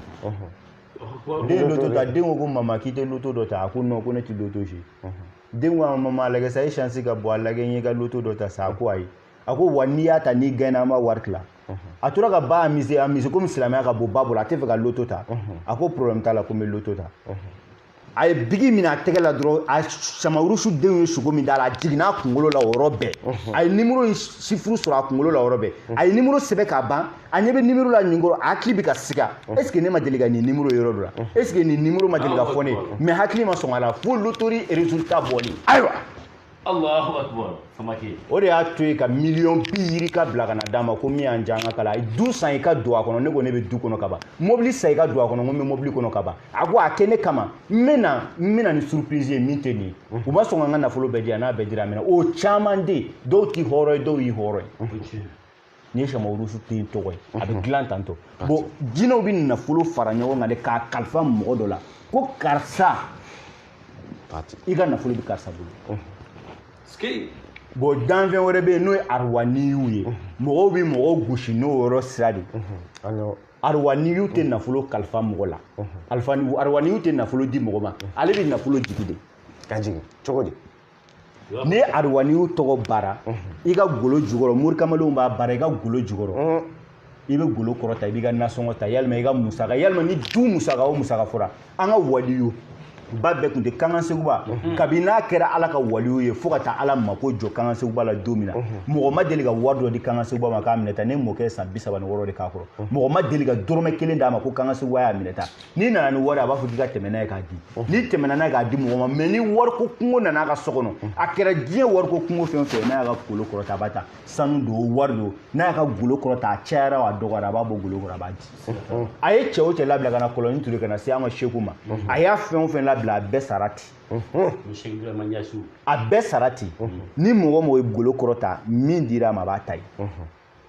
den loto ta den ko ko mama k'i tɛ loto dɔ ta a ko non ko ne tɛ loto jouer den ko a ma mama lagɛ sa e chance ka bon a lagɛ n ye ka loto dɔ ta sa a ko ayi a ko wa n'i y'a ta n'i gaɲɛna an b'a wari tila a tora ka ba amuser amuser komi silamɛya ka bon ba bolo a tɛ fɛ ka loto ta a ko problème t'a la ko n bɛ loto ta a ye bigi minɛ a tɛgɛ la dɔrɔn a samarusu denw ye sugo min d'a la a jiginna a kunkolo la o yɔrɔ bɛɛ a ye nimoro in sifuru sɔrɔ a kunkolo la o yɔrɔ bɛɛ a ye nimoro sɛbɛn k'a ban a ɲɛ bɛ nimoro la nin kɔrɔ a hakili bɛ ka siga est ce que ne ma deli ka nin nimoro yɔrɔ dɔ la est ce que nin nimoro ma deli ka fɔ ne ye mais hakili ma sɔn a la fo lotori résultat bɔli ayiwa Allahu akbar samake o de y'a to yen ka miliyɔn bi yirika bila ka na d'a ma ko min y'an diya an ka kala a ye du san i ka don a kɔnɔ ne ko ne bɛ du kɔnɔ ka ban mobili san i ka don a kɔnɔ ko n bɛ mobili kɔnɔ ka ban a ko a kɛ ne kama n bɛ na n bɛ na ni surprise ye min tɛ nin ye u ma sɔn ka n ka nafolo bɛɛ di yan n'a bɛɛ dira a mɛna o caman de ye dɔw t'i hɔrɔn ye dɔw y'i hɔrɔn ye nin ye samawurusu den tɔgɔ ye a bɛ dilan tan tɔ bon jinɛw bɛ nafolo fara ɲɔgɔn kan de k'a kalifa mɔgɔ dɔ la ko karisa i ka nafolo bɛ karisa bolo bon danfɛn wɛrɛ bɛ yen n'o ye aruwaniyiw ye mɔgɔw bɛ mɔgɔw gosi n'o yɔrɔ sira de aruwaniyiw tɛ nafolo kalifa mɔgɔ la aruwaniyiw tɛ nafolo di mɔgɔ ma ale bɛ nafolo jigin de k'a jigin cogo di ni aruwaniyiw tɔgɔ bara i ka golo jukɔrɔ morikamalenw b'a bara i ka golo jukɔrɔ i bɛ golo kɔrɔta i b'i ka nasɔngɔ ta walima i ka musaka walima ni du musaka o musaka fɔra an ka waliyo ba bɛɛ tun tɛ kankan seguba kabini n'a kɛra ala ka waliyo ye fo ka taa ala mako jɔ kankan seguba la don min na mɔgɔ ma deli ka wari dɔ di kankan seguba ma k'a minɛ ta ne mɔkɛ ye san bi saba ni wɔɔrɔ de k'a kɔrɔ mɔgɔ ma deli ka dɔrɔmɛ kelen d'a ma ko kankan seguba y'a minɛ ta n'i nana ni wari a b'a fɔ k'i ka tɛmɛ n'a ye k'a di n'i tɛmɛna n'a ye k'a di mɔgɔ ma mɛ ni wariko kungo nana a ka so kɔnɔ a kɛra diɲɛ wariko kungo fɛn o fɛn n'a y'a ka golo kɔrɔta a b'a ta sanu don wari don n'a y'a ka golo kɔrɔta a cayara a dɔgɔyara a b'a bɔ golo kɔrɔ a b'a di a ye cɛ o cɛ labila ka na kɔlɔnni turu ka na se an ka seku ma a y'a fɛn o fɛn labila a bɛɛ sara ten a bɛɛ sara ten ni mɔgɔ o mɔgɔ ye golo kɔrɔta min dira a ma a b'a ta ye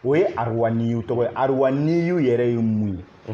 o ye aruwaniyu tɔgɔ ye aruwaniyu yɛrɛ ye mun ye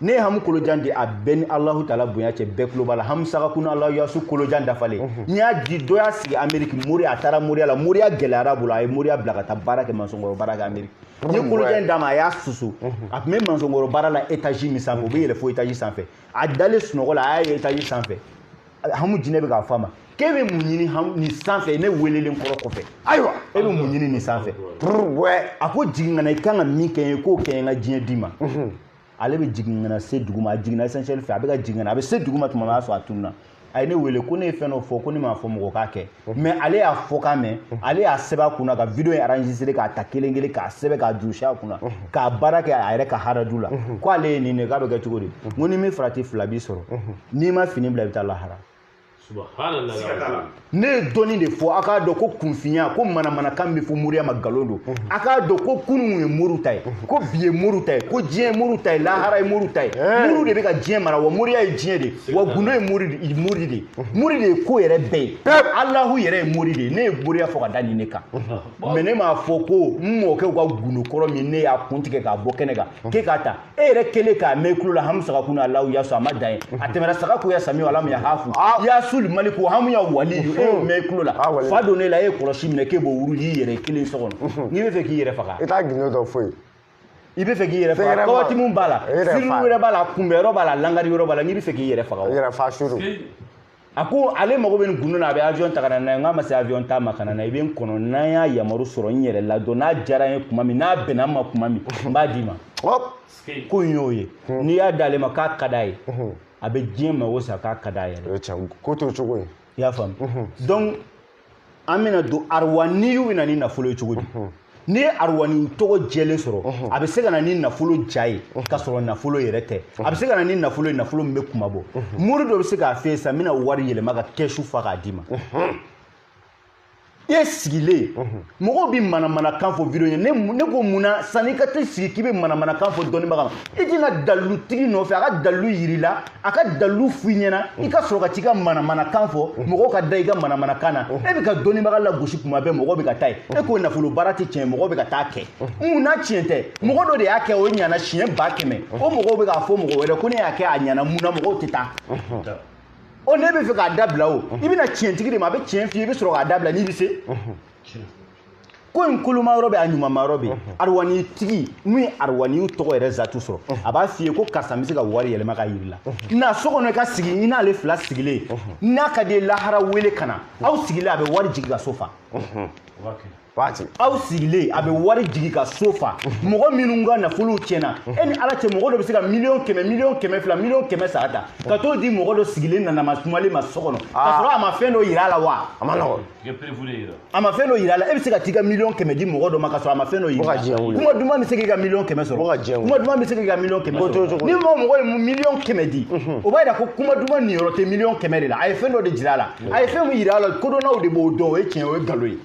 ne ye hamu kolojan di a bɛɛ ni alahu taala bonya cɛ bɛɛ tulo b'a la hamu sagakuna alahu yasu kolojan dafalen mhm. n'i y'a di dɔ y'a sigi ameriki mori a taara moriya la moriya gɛlɛyara a bolo a ye moriya bila ka taa baara kɛ mansɔnkɔrɔ baara kɛ ameriki mhm. n ye kolojan d'a ma a y'a susu mhm. a tun bɛ mansɔnkɔrɔ baara la etazi min sanfɛ o bɛ yɛlɛn fo etazi sanfɛ a dalen sunɔgɔ la a y'a ye etazi sanfɛ hamu jinɛ bɛ k'a fɔ a ma k'e bɛ mun ɲini nin sanfɛ ne weelelen kɔrɔ kɔfɛ ayiwa e bɛ mun ɲini nin sanfɛ a ko jigin ka na i kan ka min kɛ n ye k'o kɛ n ka diɲɛ d'i ma ale bɛ jigin ka na se duguma a jiginna ascenseur fɛ a bɛ ka jigin ka na a bɛ se duguma tuma min a y'a sɔrɔ a tununna a ye ne wele ko ne ye fɛn dɔ fɔ ko ne m'a fɔ mɔgɔ k'a kɛ mɛ ale y'a fɔ k'a mɛn ale y'a sɛbɛn a kunna ka video in enregistré k'a ta kelen kelen k'a sɛbɛn k'a durusi a kunna k'a baara kɛ a yɛrɛ ka haraju la ko ale ye nin de k'a bɛ kɛ cogo di n ko ni min farati fila b'i sɔrɔ n'i ma fini bila i bɛ taa lahara ne ye dɔɔni de fɔ a k'a dɔn ko kunfinya ko manamanakan bɛ fɔ moriya ma nkalon don mhm. a k'a dɔn ko kunun ye moriw ta ye mhm. ko bi ye moriw ta ye ko diɲɛ ye moriw ta ye lahara ye moriw ta ye moriw de bɛ ka diɲɛ mara wa moriya ye diɲɛ de ye wa gundo ye mori de ye mori de mhm. ye ko yɛrɛ bɛɛ ye alahu yɛrɛ ye mori de ye ne ye moriya fɔ ka da nin ne kan mɛ ne m'a fɔ ko n mɔkɛw ka gundo kɔrɔ min ne y'a kun tigɛ k'a bɔ kɛnɛ kan k'e k'a ta e yɛrɛ kelen k'a mɛn kulo la hamu sagakuna alahu yasu a ma dan yen a tɛmɛra saga ko ya sami ala mu ya hafu yasul maliku hamu ya wali e y'o mɛn kulo la fa donna e la e ye kɔlɔsi minɛ k'e b'o wurudi i yɛrɛ kelen so kɔnɔ n'i bɛ fɛ k'i yɛrɛ faga i t'a gundo dɔn fo i bɛ fɛ k'i yɛrɛ faga kawatimu b'a la siri wɛrɛ b'a la kunbɛn yɔrɔ b'a la langari yɔrɔ b'a la n'i bɛ fɛ k'i yɛrɛ faga i yɛrɛ faga suru a ko ale mago bɛ nin gundo la a bɛ avion ta ka na n'a ye n k'a ma se avion ta ma ka na n'a ye i bɛ n kɔnɔ n'an y'a yamaru sɔrɔ n yɛrɛ la dɔn n'a diyara n ye tuma min n'a bɛnna n ma tuma min n b'a d'i ma ko in y'o ye n'i y'a d'ale ma k'a ka d'a ye a bɛ diɲɛ mago sa k'a ka d'a yɛrɛ ko to cogo ye i y'a faamu donc an bɛna don arwaniyu bɛ na ni nafolo ye cogo di n'i ye arwani tɔgɔ jɛlen sɔrɔ a bɛ se ka na ni nafolo ja ye ka sɔrɔ nafolo yɛrɛ tɛ a bɛ se ka na ni nafolo ye nafolo min bɛ kuma bɔ mori dɔ bɛ se k'a f'i ye sisan n bɛna wari yɛlɛma ka kɛsu fa k'a d'i ma e sigilen mɔgɔw bɛ manamanakan fɔ video ɲɛ ne ko mun na sanni i ka t'i sigi k'i bɛ manamanakan fɔ dɔnnibaga ma i tɛ na dalilutigi nɔfɛ a ka dalilu yir'i la a ka dalilu f'i ɲɛna i ka sɔrɔ ka t'i ka manamanakan fɔ mɔgɔw ka da i ka manamanakan na e bɛ ka dɔnnibaga lagosi kuma bɛɛ mɔgɔ bɛ ka taa ye e ko nafolo baara tɛ tiɲɛ mɔgɔ bɛ ka taa kɛ mun na tiɲɛ tɛ mɔgɔ dɔ de y'a kɛ o ɲana siɲɛ ba kɛmɛ o mɔgɔw bɛ k'a fɔ mɔgɔ wɛrɛ ko ne y'a kɛ a ɲana mun na mɔgɔw tɛ taa o n'e bɛ fɛ k'a dabila o i bɛ na tiɲɛtigi de ma a bɛ tiɲɛ f'i ye i bɛ sɔrɔ k'a dabila n'i bɛ se ko in koloma yɔrɔ bɛ a ɲumanma yɔrɔ bɛ arwani tigi minnu ye arwaniw tɔgɔ yɛrɛ zatu sɔrɔ a b'a f'i ye ko karisa bɛ se ka wari yɛlɛma k'a yir'i la na so kɔnɔ i ka sigi i n'ale fila sigilen n'a ka di lahara wele ka na aw sigilen a bɛ wari jigin ka so fa aw sigilen a bɛ wari jigin ka so fa mɔgɔ minnu ka nafolow tiɲɛna e ni ala cɛ mɔgɔ dɔ bɛ se ka miliyɔn kɛmɛ miliyɔn kɛmɛ fila miliyɔn kɛmɛ saba ta ka t'o di mɔgɔ dɔ sigilen nanama sumalen ma so kɔnɔ ka sɔrɔ a ma fɛn dɔ yira a la wa a man nɔgɔn a ma fɛn dɔ yira a la e bɛ se ka t'i ka miliyɔn kɛmɛ di mɔgɔ dɔ ma ka sɔrɔ a ma fɛn dɔ yira kuma duman bɛ se k'i ka miliyɔn kɛmɛ sɔrɔ kuma duman bɛ se k'i ka miliyɔn kɛmɛ sɔrɔ ni mɔgɔ mɔgɔ ye miliyɔn kɛmɛ di o b'a yira ko kuma duman niyɔrɔ tɛ miliyɔn kɛmɛ de la a ye fɛn dɔ de jira a la a ye fɛn min yira a la kodɔnnaw de b'o dɔn o ye tiɲɛ o ye nkalon ye.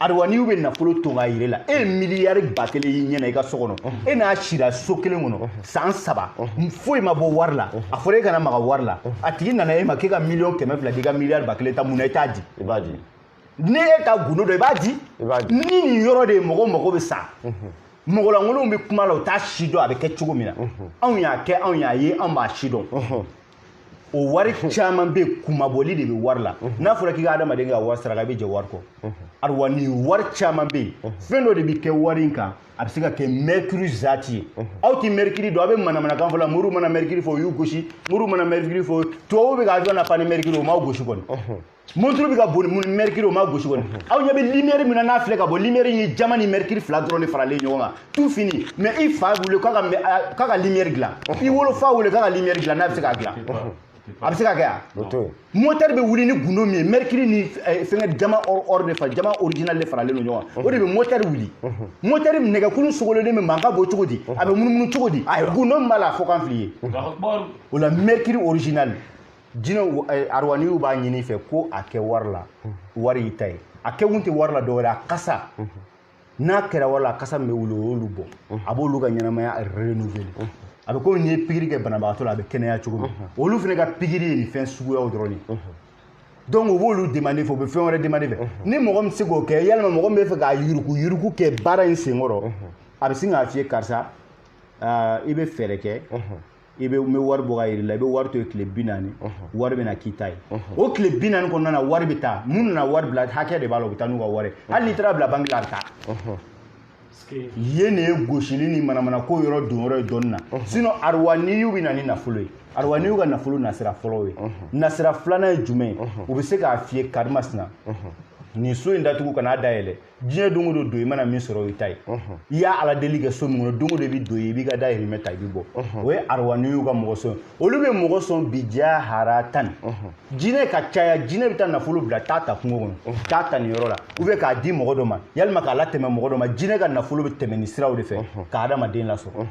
arwaniw bɛ nafolo ton k'a yir'e la e ye miliyari ba kelen y'i ɲɛna i ka so kɔnɔ e n'a sira so kelen kɔnɔ san saba foyi ma bɔ wari la a fɔra e kana maga wari la a tigi nana e ma k'e ka miliyɔn kɛmɛ fila di i ka miliyari ba kelen ta mun na i t'a di i b'a di ni e t'a gundo dɔn i b'a di ni nin yɔrɔ de ye mɔgɔ mago bɛ sa mɔgɔlankolonw bɛ kuma la u t'a sidɔn a bɛ kɛ cogo min na anw y'a kɛ anw y'a ye anw b'a sidɔn o wari caman bɛ kunmabɔli de bɛ wari la n'a fɔra k'i ka adamaden kɛ wari saraka i bɛ jɛ wari kɔ arwani wari caman bɛ yen fɛn dɔ de bɛ kɛ wari in kan a bɛ se ka kɛ mɛrikiri zati ye aw tɛ mɛrikiri dɔn aw bɛ manamanakan fɔ la moriw mana mɛrikiri fɔ o y'u gosi moriw mana mɛrikiri fɔ tubabuw bɛ ka avion lapan ni mɛrikiri ye o m'aw gosi kɔni monturu bɛ ka boli ni mɛrikiri o m'aw gosi kɔni aw ɲɛ bɛ limɛri min na n'a filɛ ka bɔ limɛri ye jaman ni mɛrikiri fila dɔrɔn de faralen ɲɔgɔn kan tout fini mais i fa wele k'a ka mɛ- k'a ka limɛri dilan i wolo fa wele k'a ka limɛri dilan n'a bɛ se k'a dilan a bɛ se ka kɛ a o to yen motɛri bɛ wuli ni gundo min ye mɛrikiri ni eh, fɛnkɛ jaman or or de fa jaman original de faralen don ɲɔgɔn kan o de bɛ motɛri wuli motɛri nɛgɛkulu sogololen bɛ mankan bɔ cogo di a bɛ munumunu cogo di gundo min b'a la a fɔ k'an fili ye o la mɛrikiri original jinɛw eh, aruwaniw b'a ɲin'i fɛ ko a kɛ wari la wari y'i ta ye a kɛkun tɛ wari la dɔwɛrɛ a kasa n'a kɛra wari la a kasa min bɛ wuli o y'olu bɔ a b'olu ka ɲɛnamaya renouveler a bɛ komi n'i ye pikiri kɛ banabagatɔ la a bɛ kɛnɛya cogo min olu fana ka pikiri ye nin fɛn suguyaw dɔrɔn de ye donc u b'olu demande fɛ u bɛ fɛn wɛrɛ demande fɛ ni mɔgɔ min tɛ se k'o kɛ walima mɔgɔ min bɛ fɛ ka yuruguyurugu kɛ baara in senkɔrɔ a bɛ sin k'a f'i ye karisa ah, i bɛ fɛɛrɛ kɛ i bɛ n bɛ wari bɔ ka yir'i la i bɛ wari to yen tile bi naani wari bɛna k'i ta ye o tile bi naani kɔnɔna na wari bɛ taa minnu nana wari bila hakɛ de b'a la u bɛ taa n'u ka wari hali n'i taara bila banki la a bɛ taa yen de ye gosili ni manamana ko yɔrɔ don yɔrɔ ye dɔɔni na sinon arwaniw bɛ na ni nafolo ye arwaniw ka nafolo nasira fɔlɔ ye nasira filanan ye jumɛn ye u bɛ se k'a f'i ye karimasina nin so in datugu kan'a dayɛlɛ diɲɛ don o don don i mana min sɔrɔ o y'i ta ye i y'a ala deli kɛ so min kɔnɔ don o don i bɛ don yen i b'i ka dahirimɛ ta i bɛ bɔ o ye arwaniw ka mɔgɔ sɔn olu bɛ mɔgɔ sɔn bi diya hara tan jinɛ ka caya jinɛ bɛ taa nafolo bila taa ta kungo kɔnɔ taa ta nin yɔrɔ la u bɛ k'a di mɔgɔ dɔ ma yalima k'a latɛmɛ mɔgɔ dɔ ma jinɛ ka nafolo bɛ tɛmɛ nin siraw de fɛ ka adamaden lasɔrɔ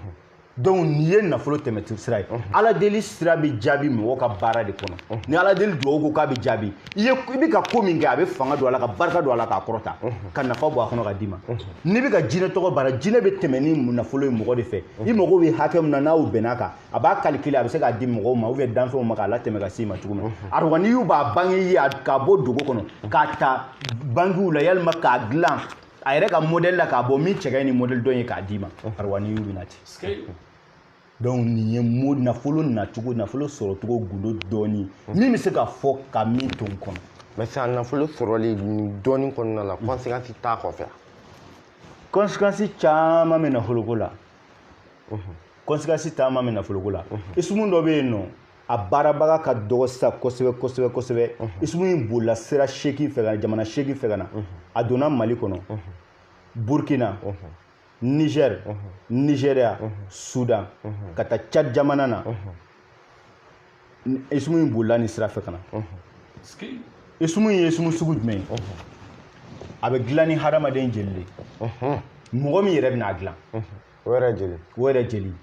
donc nin ye nafolo tɛmɛ sira ye ala deli sira bɛ jaabi mɔgɔ ka baara de kɔnɔ ni ala deli dugawu ko k'a bɛ jaabi i ye i bɛ ka ko min kɛ a bɛ fanga don a la ka barika don a la k'a kɔrɔta ka nafa bɔ a kɔnɔ ka d'i ma n'i bɛ ka jinɛ tɔgɔ baara jinɛ bɛ tɛmɛ ni nafolo ye mɔgɔ de fɛ i mago bɛ hakɛ min na n'aw bɛnn'a kan a b'a calculer a bɛ se k'a di mɔgɔw ma ou bien danfɛnw ma k'a latɛmɛ ka s'i ma cogo min na arwaniw b'a bange ye k'a bɔ dogo kɔnɔ k'a ta bankiw la yalima k'a dilan a yɛrɛ ka modèle la k'a bɔ min cɛ ka ɲi ni modèle dɔ ye k'a d'i ma arwaniw bɛ na ten donc nin ye nafolo nacogo nafolo sɔrɔcogo gundo dɔɔni min bɛ se ka fɔ ka min to n kɔnɔ mais sisan nafolo sɔrɔli dɔɔni kɔnɔna la conséquence t'a kɔfɛ conséquence caman bɛ nafoloko la conséquence caman bɛ nafoloko la isumu dɔ bɛ yen nɔ a baarabaga ka dɔgɔ sisan kosɛbɛ kosɛbɛ kosɛbɛ isumu in bolila sira seegin fɛ ka na jamana seegin fɛ ka na a donna mali kɔnɔ burkina niger nigeria sudan ka taa cad jamana na isumu in bolila nin sira fɛ ka na isumu in ye isumu sugu jumɛn ye a bɛ dilan ni hadamaden jeli de mɔgɔ min yɛrɛ bɛna a dilan o yɛrɛ jeli o yɛrɛ jeli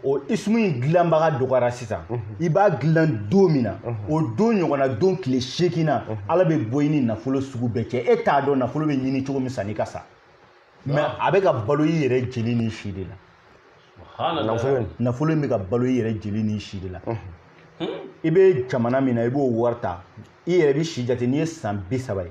o ismu in dilanbaga dɔgɔyara sisan i b'a dilan don min na o don ɲɔgɔnna don tile seegin na ala bɛ bɔ i ni nafolo sugu bɛɛ cɛ e t'a dɔn nafolo bɛ ɲini cogo min sanni ka sa mais a bɛ ka balo i yɛrɛ jeli ni si de la nafolo in bɛ ka balo i yɛrɛ jeli ni si de la i bɛ jamana min na i b'o wari ta i yɛrɛ b'i si jate n'i ye san bi saba ye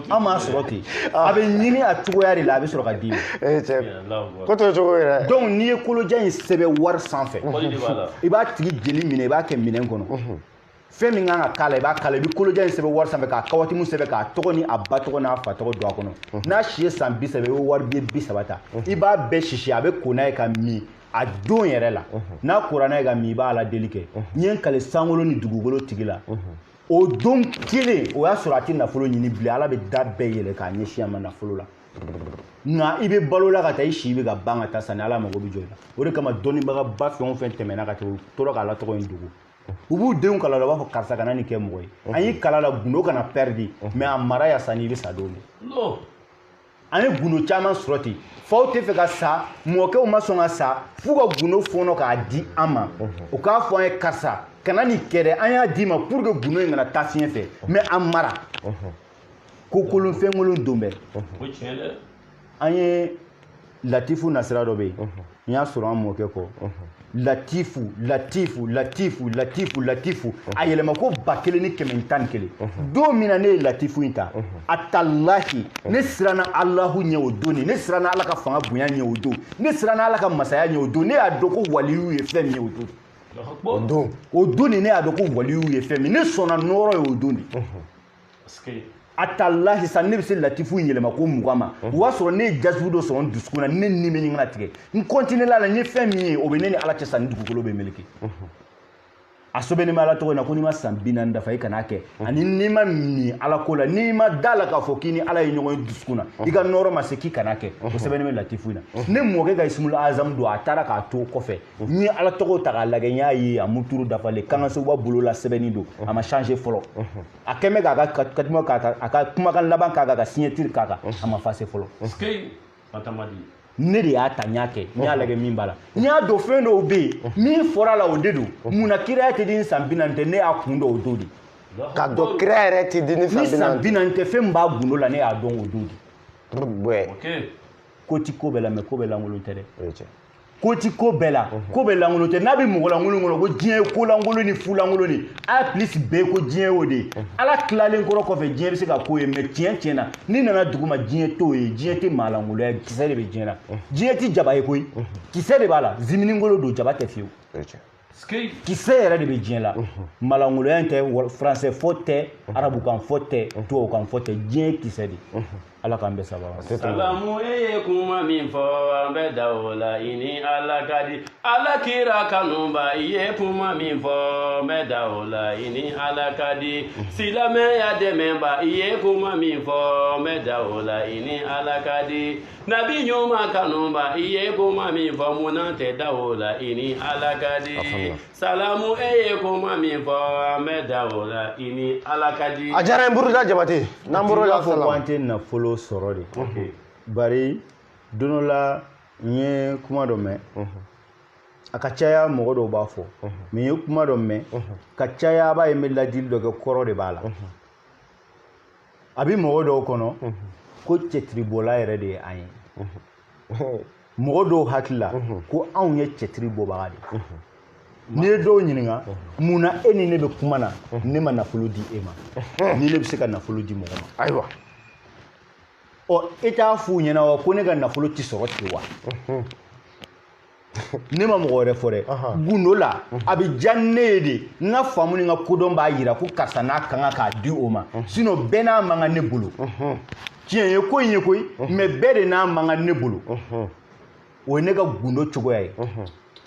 an m'a sɔrɔ ten ah. a bɛ ɲini a cogoya de la a bɛ sɔrɔ ka d'i ma eh, ko t'o cogo ye dɛ donc n'i ye kolojan in sɛbɛn wari sanfɛ i b'a tigi jeli minɛ i b'a kɛ minɛn kɔnɔ mhm. fɛn min kan ka k'a la i b'a k'a la i bɛ kolojan in sɛbɛn wari sanfɛ k'a kawatimu sɛbɛn k'a tɔgɔ ni a ba tɔgɔ n'a fa tɔgɔ don a kɔnɔ mhm. n'a si ye san bi saba i bɛ wari biye bi saba ta mhm. i b'a bɛɛ sisi a bɛ ko n'a ye k'a min a don yɛrɛ la n'a kora n'a ye k'a min i b'a aladeli kɛ n ye n kali sankolo ni dugukolo tigi la o don kelen o y'a sɔrɔ a tɛ nafolo ɲini bilen ala bɛ da bɛɛ yɛlɛ k'a ɲɛsin a ma nafolo la nka i bɛ balo la ka taa i si bɛ ka ban ka taa sanni ala mago bɛ jɔ i la o de kama dɔnnibagaba fɛn o fɛn tɛmɛna ka tɛmɛ u tora k'ala tɔgɔ in dogo u b'u denw kalan a la u b'a fɔ karisa kana nin kɛ mɔgɔ ye an y'i kalan a la gundo kana pɛridi mais a mara ya sanni i bɛ sa don min an ye gundo caman sɔrɔ ten faw tɛ fɛ ka sa mɔkɛw ma sɔn ka sa f'u ka gundo fɔɔnɔ k'a di an ma u k'a fɔ an ye karisa kana nin kɛ dɛ an y'a d'i ma pour que gundo in kana taa fiɲɛ fɛ mais an mara ko kolon fɛnkolon don bɛɛ an ye latifu nasira dɔ bɛ yen n y'a sɔrɔ an mɔkɛ kɔ latifu latifu latifu latifu latifu a yɛlɛma ko ba kelen ni kɛmɛ ni tan ni kelen don min na ne ye latifu in ta a talahi ne siranna alahu ɲɛ o don ne siranna ala ka fanga bonya ɲɛ o don ne siranna ala ka masaya ɲɛ o don ne y'a dɔn ko waliyu ye fɛn min ye o don o don de ne y'a dɔn ko waliyu ye fɛn min ne sɔnna nɔɔrɔ ye o don de atalahi sanni ne bɛ se latifu in yɛlɛma ko mugan ma o y'a sɔrɔ ne ye jasibu dɔ sɔrɔ n dusukun na ne ni bɛ ɲini ka tigɛ n kɔntinela a la n ye fɛn min ye o bɛ ne ni ala cɛ san ni dugukolo bɛ meleke a sɛbɛnnen bɛ ala tɔgɔ in na ko n'i ma san bi naani dafa i kan'a kɛ ani n'i ma min ala ko la n'i ma da a la k'a fɔ k'i ni ala ye ɲɔgɔn ye dusukun na i ka nɔɔrɔ ma se k'i kan'a kɛ o sɛbɛnnen bɛ latifu in na ne mɔkɛ ka ismul azam don a taara k'a to kɔfɛ n ye ala tɔgɔw ta k'a lagɛ n y'a ye a muturu dafalen kangasoba bolo la sɛbɛnni don a ma changer fɔlɔ a kɛlen bɛ k'a ka katima k'a kan a ka kumakan laban k'a kan ka signature k'a kan a ma effacer fɔlɔ ne de y'a ta n y'a kɛ n y'a lagɛ min b'a la n y'a dɔn fɛn dɔw bɛ yen min fɔra a la o de don mun na kiraya tɛ di ni san bi naani tɛ ne y'a kun dɔn o don de ka dɔn kiraya yɛrɛ tɛ di ni san bi naani tɛ fɛn min b'a gundo la ne y'a dɔn o don de ko ti ko bɛɛ la mais ko bɛɛ lankolon tɛ dɛ ko ti ko bɛɛ la ko bɛɛ lankolon tɛ n'a bɛ mɔgɔ lankolon kɔnɔ ko diɲɛ ye ko lankolon ni fu lankolon ni a plus bɛɛ ko diɲɛ y'o de ye ala tilalen kɔrɔ kɔfɛ diɲɛ bɛ se ka k'o ye mais tiɲɛ tiɲɛ na n'i nana dugu ma diɲɛ t'o ye diɲɛ tɛ maa lankoloya kisɛ de bɛ diɲɛ na diɲɛ tɛ jaba ye koyi kisɛ de b'a la ziminikolo don jaba tɛ fiyewu kisɛ yɛrɛ de bɛ diɲɛ la maa lankoloya in tɛ français fɔ tɛ arabukan fɔ tɛ tubabukan fɔ tɛ diɲɛ kisɛ de ala k'an bɛ saba salamu e ye kuma min fɔ an bɛ da o la i ni ala ka di ala kira kanuba i ye kuma min fɔ an bɛ da o la i ni ala ka di silamɛya dɛmɛba i ye kuma min fɔ an bɛ da o la i ni ala ka di nabi ɲuman kanuba i ye kuma min fɔ munna tɛ da o la i ni ala ka di salamu e ye kuma min fɔ an bɛ da o la i ni ala ka di a diyara n buruda jabate n'an bɔr'o la fɔ ko an tɛ nafolo sɔrɔ de bari don dɔ la n ye kuma dɔ mɛn a ka caya mɔgɔ dɔw b'a fɔ mais n ye kuma dɔ mɛn ka caya a b'a ye n bɛ ladili dɔ kɛ kɔrɔ de b'a la a bɛ mɔgɔ dɔw kɔnɔ ko cɛtiribɔla yɛrɛ de ye an ye mɔgɔ dɔw hakili la ko anw ye cɛtiri bɔbaga de ye n'i ye dɔw ɲininka mun na e ni ne bɛ kuma na ne ma nafolo di e ma ni ne bɛ se ka nafolo di mɔgɔ ma ayiwa ɔ e t'a f'u ɲɛna wa ko ne ka nafolo tɛ sɔrɔ ten wa ne ma mɔgɔ wɛrɛ fɔ dɛ gundo la a bɛ diya ne ye de n ka faamu ni n ka kodɔn b'a yira ko karisa n'a ka kan k'a di o ma sinon bɛɛ n'a man kan ne bolo tiɲɛ ye ko in ye koyi mais bɛɛ de n'a man kan ne bolo o ye ne ka gundo cogoya ye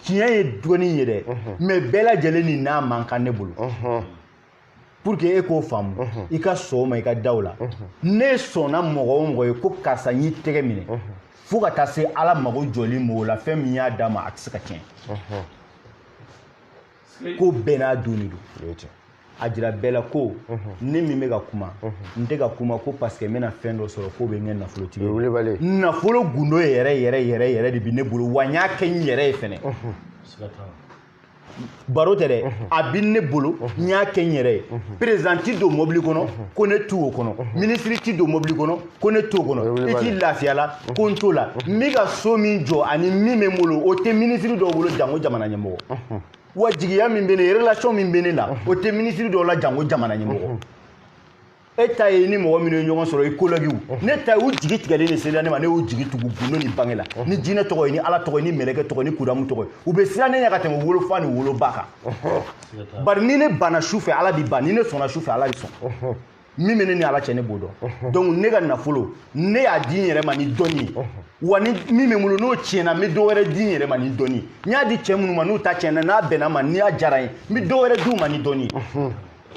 tiɲɛ ye dɔɔnin ye dɛ mais bɛɛ lajɛlen ni n'a man kan ne bolo pour que e k'o faamu mhm. i ka sɔn o ma i ka da o la mhm. ne sɔnna mɔgɔ o mɔgɔ ye ko karisa n y'i tɛgɛ minɛ mhm. fo ka taa se ala mago jɔli m'o la fɛn min y'a d'a ma a tɛ se ka tiɲɛ ko bɛɛ n'a don de don a jira bɛɛ la ko ne min bɛ ka kuma n tɛ ka kuma ko parce que n bɛna fɛn dɔ sɔrɔ k'o bɛ n kɛ nafolotigi ye nafolo gundo yɛrɛ yɛrɛ yɛrɛ yɛrɛ de bɛ ne bolo wa n y'a kɛ n yɛrɛ ye fɛnɛ baro tɛ dɛ a bɛ ne bolo n y'a kɛ n yɛrɛ ye président ti don mɔbili kɔnɔ ko ne t'o kɔnɔ minisiri ti don mɔbili kɔnɔ ko ne t'o kɔnɔ i ti lafiya la ko n t'o la n bɛ ka so min jɔ ani min bɛ n bolo o tɛ minisiri dɔw bolo janko jamana ɲɛmɔgɔ wa jigiya min bɛ ne relation min bɛ ne la o tɛ minisiri dɔw la janko jamana ɲɛmɔgɔ e ta ye ni mɔgɔ minnu ye ɲɔgɔn sɔrɔ i kolɛgiw ne ta ye u jigi tigɛlen de sela ne ma ne y'u jigi tugu gundo ni bange la ni jinɛ tɔgɔ ye ni ala tɔgɔ ye ni mɛlɛkɛ tɔgɔ ni kudamu tɔgɔ ye u bɛ siran ne ɲɛ ka tɛmɛ wolofa ni woloba kan bari ni ne banna su fɛ ala bi ban ni ne sɔnna su fɛ ala bi sɔn min bɛ ne ni ala cɛ ne b'o dɔn donc ne ka nafolo ne y'a di n yɛrɛ ma ni dɔnni ye wa ni min bɛ n bolo n'o tiɲɛna n bɛ dɔ wɛrɛ di n yɛrɛ ma ni dɔnni ye n y'a di cɛ minnu ma n'u ta tiɲɛna n'a bɛnna n ma ni a diyara n ye n bɛ dɔ wɛrɛ di u ma ni dɔnni ye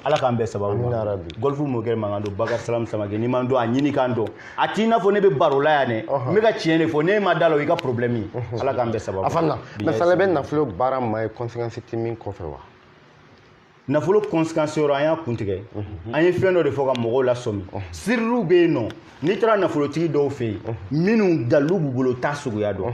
ala k'an bɛɛ sababu ma gɔlifu mɔkɛ mankan don bakari salam samakɛ n'i m'a dɔn a ɲini k'a dɔn a t'i n'a fɔ ne bɛ baro la yan dɛ n bɛ ka tiɲɛ de fɔ n'e ma da la o y'i ka problème ye ala k'an bɛɛ sababu a fana mɛ fana bɛ nafolo baara maa ye conséquence tɛ min kɔfɛ wa nafolo conséquence yɔrɔ an y'a kuntigɛ an ye fɛn dɔ de fɔ ka mɔgɔw lasɔmi siririw bɛ yen nɔ n'i taara nafolotigi dɔw fɛ yen minnu dalilu b'u bolo t'a suguya dɔn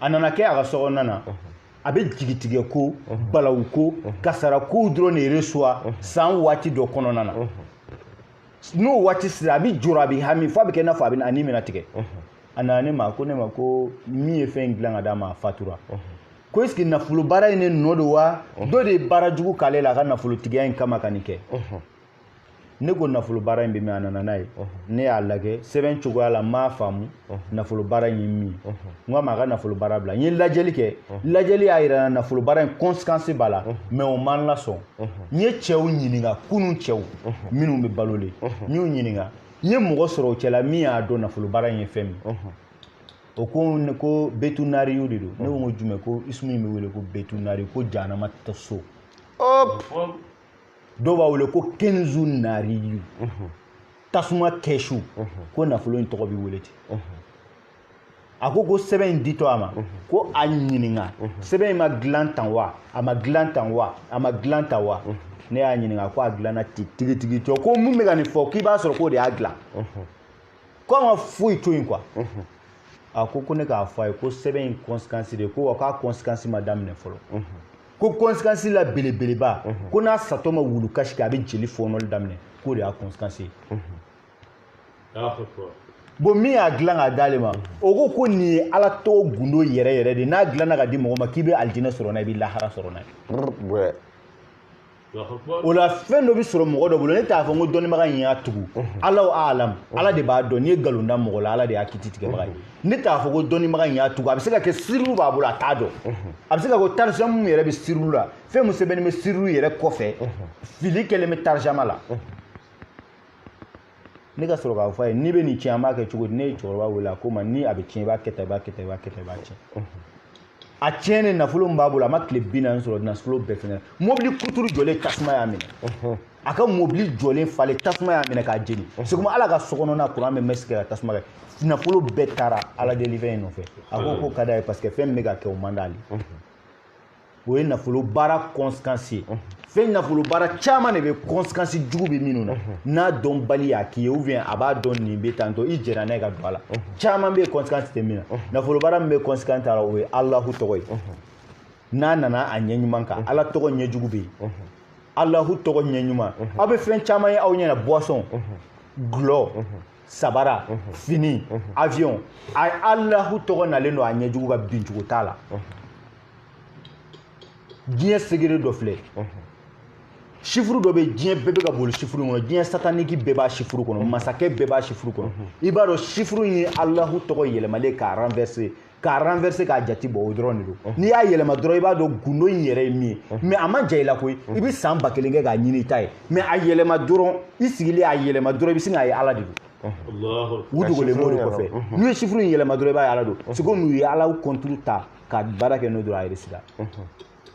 a nana kɛ a ka sokɔnɔna na a bɛ jigitigɛ ko balawu ko kasara kow dɔrɔn de reçoit san waati dɔ kɔnɔna na n'o waati sera a bɛ jɔrɔ a bɛ hami f'a bɛ kɛ i n'a fɔ a bɛ a ni bɛna tigɛ a nana ne ma ko ne ma ko min ye fɛn in dilan ka d'a ma a fatura ko est ce que nafolo baara in de nɔ don wa dɔ de ye baara jugu k'ale la a ka nafolotigiya in kama ka nin kɛ ne ko nafolo baara in bɛ min a nana n'a ye ne y'a lajɛ sɛbɛn cogoya la n m'a faamu nafolo baara in ye min ye n k'a ma a ka nafolo baara bila n ye lajɛli kɛ lajɛli y'a yira n na nafolo baara in conséquence b'a la mais o ma n lasɔn n ye cɛw ɲininka kunun cɛw minnu bɛ balolen n y'u ɲininka n ye mɔgɔ sɔrɔ o cɛla min y'a dɔn nafolo baara in ye fɛn min o ko ko betunariyu de don ne ko n ko jumɛn ko isumu in bɛ wele ko betunari ko janama ta so dɔw b'a wele ko kenzu nariyu tasuma kɛsu ko nafolo in tɔgɔ bɛ wele ten a ko ko sɛbɛn in ditɔ a ma ko a ɲininka sɛbɛn in ma dilan tan wa a ma dilan tan wa a ma dilan tan wa ne y'a ɲininka ko a dilanna ten tigitigi cɔ ko min bɛ ka nin fɔ k'i b'a sɔrɔ k'o de y'a dilan ko a ma foyi to yen quoi a ko ko ne k'a fɔ a ye ko sɛbɛn in conséquence de ko wa k'a conséquence ma daminɛ fɔlɔ ko conséquence la belebeleba mhm. ko n'a satɔ ma wulu kasi kɛ a bɛ jeli fɔɔnɔli daminɛ k'o de y'a conséquence ye bon min y'a dilan k'a d'ale ma mhm. o ko ko nin ye ala tɔgɔ gundo yɛrɛ yɛrɛ de n'a dilanna ka di mɔgɔ ma k'i bɛ alijinɛ sɔrɔ n'a ye i bɛ lahara sɔrɔ n'a ye o la fɛn dɔ bɛ sɔrɔ mɔgɔ dɔ bolo ne t'a fɔ n ko dɔnnibaga in y'a tugu alahu alam ala de b'a dɔn n'i ye nkalon da mɔgɔ la ala de y'a kiti tigɛbaga ye ne t'a fɔ ko dɔnnibaga in y'a tugu a bɛ se ka kɛ sirilu b'a bolo a t'a dɔn a bɛ se ka kɛ tarijama min yɛrɛ bɛ sirilu la fɛn min sɛbɛnnen bɛ sirilu yɛrɛ kɔfɛ fili kɛlen bɛ tarijama la ne ka sɔrɔ k'a fɔ a ye n'i bɛ nin tiɲɛ an b'a kɛ cogo di ne ye cɛkɔrɔba wele a ko n ma ni a bɛ tiɲɛ i b'a kɛ tan i b'a kɛ tan i b'a kɛ tan i b'a tiɲɛ a tiɲɛnen nafolo min b'a bolo a ma tile bi naani sɔrɔ nafolo bɛɛ fɛngɛ mobili kuturu jɔlen tasuma y'a minɛ a ka mobili jɔlen falen tasuma y'a minɛ k'a jeni seguma ale ka sokɔnɔna kuran bɛ masi kɛ ka tasuma kɛ nafolo bɛɛ taara ala delifɛn in nɔfɛ a ko ko ka d'a ye parce que fɛn min bɛ ka kɛ o man d'ale o ye nafolo baara conséquence ye fɛn nafolo baara caman de bɛ conséquence jugu bɛ minnu na n'a dɔnbali y'a k'i ye ou bien a b'a dɔn nin bɛ tantɔ i jɛra n'a ye ka don a la caman bɛ yen conséquence tɛ min na nafolo baara min bɛ conséquence t'a la o ye alahu tɔgɔ ye n'a nana a ɲɛ ɲuman kan ala tɔgɔ ɲɛ jugu bɛ yen alahu tɔgɔ ɲɛ ɲuman aw bɛ fɛn caman ye aw ɲɛna boisson golo sabara fini avion a alahu tɔgɔ nalen don a ɲɛ jugu ka binjugu t'a la diɲɛ segere dɔ filɛ sifuru dɔ bɛ diɲɛ bɛɛ bɛ ka boli sifuru kɔnɔ diɲɛ sataniki bɛɛ b'a sifuru kɔnɔ masakɛ bɛɛ b'a sifuru kɔnɔ i b'a dɔn sifuru ye alahu tɔgɔ yɛlɛmalen k'a renverser k'a renverser k'a jati bɔ o dɔrɔn de don n'i y'a yɛlɛma dɔrɔn i b'a dɔn gundo in yɛrɛ ye min ye mais a man jan i la koyi i bɛ san ba kelen kɛ k'a ɲini i t'a ye mais a yɛlɛma dɔrɔn i sigilen a yɛlɛma dɔrɔn i bɛ sin k'a ye ala de don u dogolen b'o de kɔfɛ n'u ye sifuru in yɛlɛma dɔrɔn i b'a ye ala don c'est comme u ye ala kɔnturu ta ka baara kɛ n'o dɔrɔn a réussira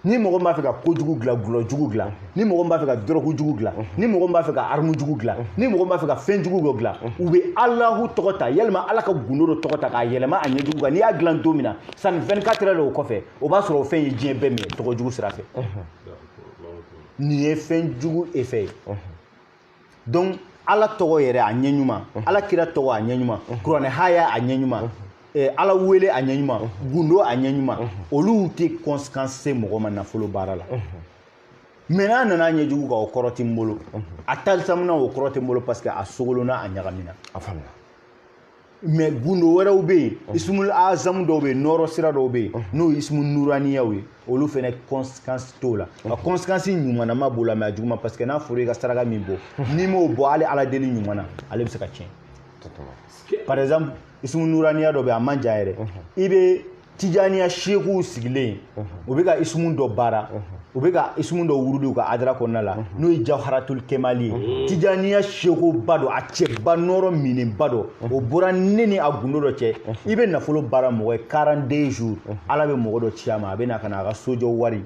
ni mɔgɔ b'a fɛ ka kojugu dilan gulɔ jugu dilan ni mɔgɔ b'a fɛ ka dɔrɔgu jugu dilan ni mɔgɔ b'a fɛ ka aramu jugu dilan ni mɔgɔ b'a fɛ ka fɛn jugu dɔ dilan u bɛ alahu tɔgɔ ta yalima ala ka gundo dɔ tɔgɔ ta k'a yɛlɛma a ɲɛjugu kan n'i y'a dilan don min na sanni 24 heures o kɔfɛ o b'a sɔrɔ o fɛn ye diɲɛ bɛɛ minɛ tɔgɔ jugu sira fɛ nin ye fɛn jugu effet ye donc ala tɔgɔ yɛrɛ a ɲɛ ɲuman ala kira tɔgɔ a ɲɛ ɲuman kuranɛ haya a ɲɛ ɲuman eh, ala wele a ɲɛ ɲuman gundo a ɲɛ ɲuman olu tɛ conséquence se mɔgɔ ma nafolo baara la mais n'a nana ɲɛ jugu kan o kɔrɔ tɛ n bolo a talisamuna o kɔrɔ tɛ n bolo parce que a sogolona a ɲagamina a faamuna mais gundo wɛrɛw bɛ yen ismul azamu dɔw bɛ yen nɔrɔ sira dɔw bɛ yen n'o ye ismu nuraniyaw ye olu fana conséquence t'o la nka conséquence ɲumanama b'o la mais a juguman parce que n'a fɔra i ka saraka min bɔ n'i m'o bɔ hali ala deli ɲuman na ale bɛ se ka tiɲɛ par exemple ismu nuraniya dɔ bɛ yen a man jan yɛrɛ i bɛ tijaniya seekuw sigilen u bɛ ka isumu dɔ baara u bɛ ka isumu dɔ wurudi u ka adara kɔnɔna la n'o ye jawharatul kemali ye tijaniya seekuba dɔ a cɛba nɔrɔ minenba dɔ o bɔra ne ni a gundo dɔ cɛ i bɛ nafolo baara mɔgɔ ye 42 jours ala bɛ mɔgɔ dɔ ci a ma a bɛ na ka na a ka sojɔ wari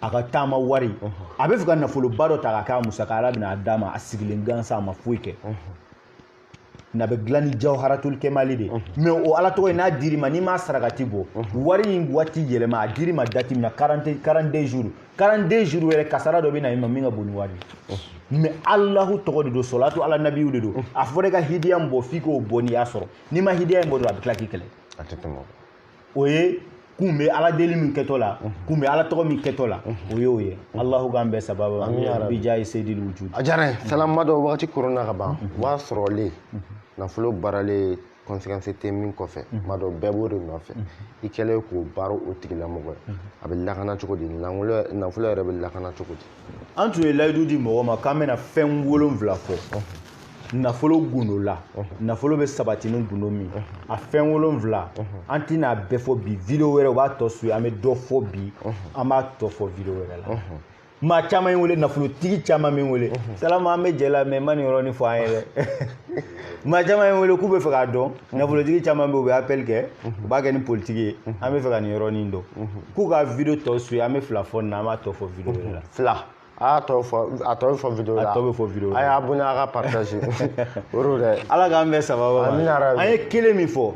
a ka taama wari a bɛ fɛ ka nafoloba dɔ ta k'a k'a musaka ala bɛna a d'a ma a sigilen gansan a ma foyi kɛ n'a bɛ dilan ni jawharatul kemali de mais o ala tɔgɔ in n'a dir'i ma n'i m'a sarakati bɔ wari in waati yɛlɛma a dir'i ma date min na 42 jours 42 jours yɛrɛ kasara dɔ bɛ na i ma min ka bon ni wari mais alahu tɔgɔ de don sɔlatu ala nabi de don a fɔra i ka hidiya min bɔ f'i k'o bɔ n'i y'a sɔrɔ n'i ma hidiya in bɔ dɔrɔn a bɛ tila k'i kɛlɛ o ye kun bɛ ala deli min kɛtɔ la kun bɛ ala tɔgɔ min kɛtɔ la o y'o ye alahu k'an bɛɛ sababa bi jahi seyidil wujudi a diyara n ye salama dɔ wagati koronna ka ban w'a sɔrɔlen nafolo baaralen conséquence tɛ min kɔfɛ maa dɔ bɛɛ b'o de nɔfɛ i kɛlen k'o baara o tigilamɔgɔ ye a bɛ lakana cogo di nafolo yɛrɛ bɛ lakana cogo di an tun ye layidu di mɔgɔ ma k'an bɛna fɛn wolonfila fɔ nafolo gundo la nafolo bɛ sabati ni gundo min a fɛn wolonfila an tɛna bɛɛ fɔ bi video wɛrɛw b'a tɔ su an bɛ dɔ fɔ bi an b'a tɔ fɔ video wɛrɛ la maa caman bɛ n wele nafolotigi caman bɛ n wele salama an bɛ jɛ la mais i ma nin yɔrɔnin fɔ an ye dɛ maa caman bɛ n wele k'u bɛ fɛ k'a dɔn nafolotigi caman bɛ u bɛ appel kɛ u b'a kɛ ni politiki ye an bɛ fɛ ka nin yɔrɔnin dɔn k'u ka video tɔ su ye an bɛ fila fɔ nin na an b'a tɔ fɔ video wɛrɛ la fila a y'a tɔ fɔ a tɔ bɛ fɔ video la a tɔ bɛ fɔ video la a y'a bonya a ka partage o don dɛ ala k'an bɛɛ sababa ma an ye kelen min fɔ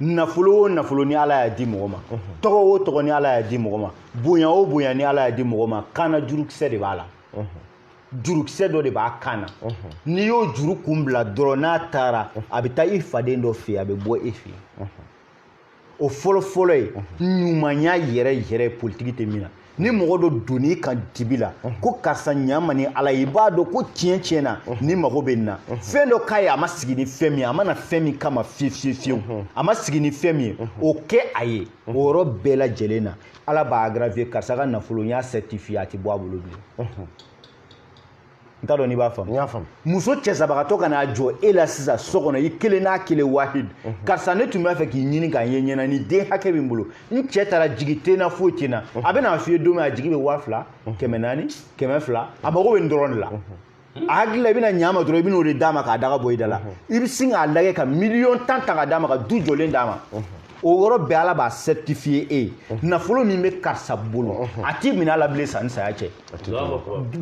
nafolo o nafolo ni ala y'a di mɔgɔ ma tɔgɔ o tɔgɔ ni ala y'a di mɔgɔ ma bonya o bonya ni ala y'a di mɔgɔ ma kanna jurukisɛ de b'a la jurukisɛ dɔ de b'a kan na n'i y'o juru kun bila dɔrɔn n'a taara a bɛ taa i faden dɔ fɛ yen a bɛ bɔ e fɛ yen o fɔlɔfɔlɔ ye ɲumanya yɛrɛ yɛrɛ politiki tɛ min na ni mɔgɔ dɔ donn'i kan dibi la ko karisa ɲa n ma ni ala ye i b'a dɔn ko tiɲɛ tiɲɛ na nin mago bɛ nin na fɛn dɔ k'a ye a ma sigi ni fɛn min ye a ma na fɛn min kama fiyewu fiyewu a ma sigi ni fɛn min ye o kɛ a ye o yɔrɔ bɛɛ lajɛlen na ala b'a aggravé karisa ka nafolo n y'a certifié a tɛ bɔ a bolo bilen mhm. n t'a dɔn n'i b'a faamu n y'a faamu muso cɛsabagatɔ ka n'a jɔ e la sisan so kɔnɔ i kelen n'a kelen wahid mhm. karisa ne tun b'a fɛ k'i ɲini k'a ye ɲɛna nin den hakɛ bɛ n bolo n cɛ taara jigi tɛ n na foyi tɛ n na mhm. a bɛ n'a f'i ye don min a jigi bɛ waa fila kɛmɛ naani kɛmɛ fila a mago bɛ nin dɔrɔn de la a hakili la i bɛna ɲa ma dɔrɔn i bɛn'o de d'a ma k'a daga bɔ i da la i bɛ sin k'a lagɛ ka miliyɔn tan ta k'a d'a ma ka du jɔlen d'a ma o yɔrɔ bɛɛ ala b'a certifier e ye nafolo min bɛ karisa bolo a tɛ minɛ a la bilen sanni saya cɛ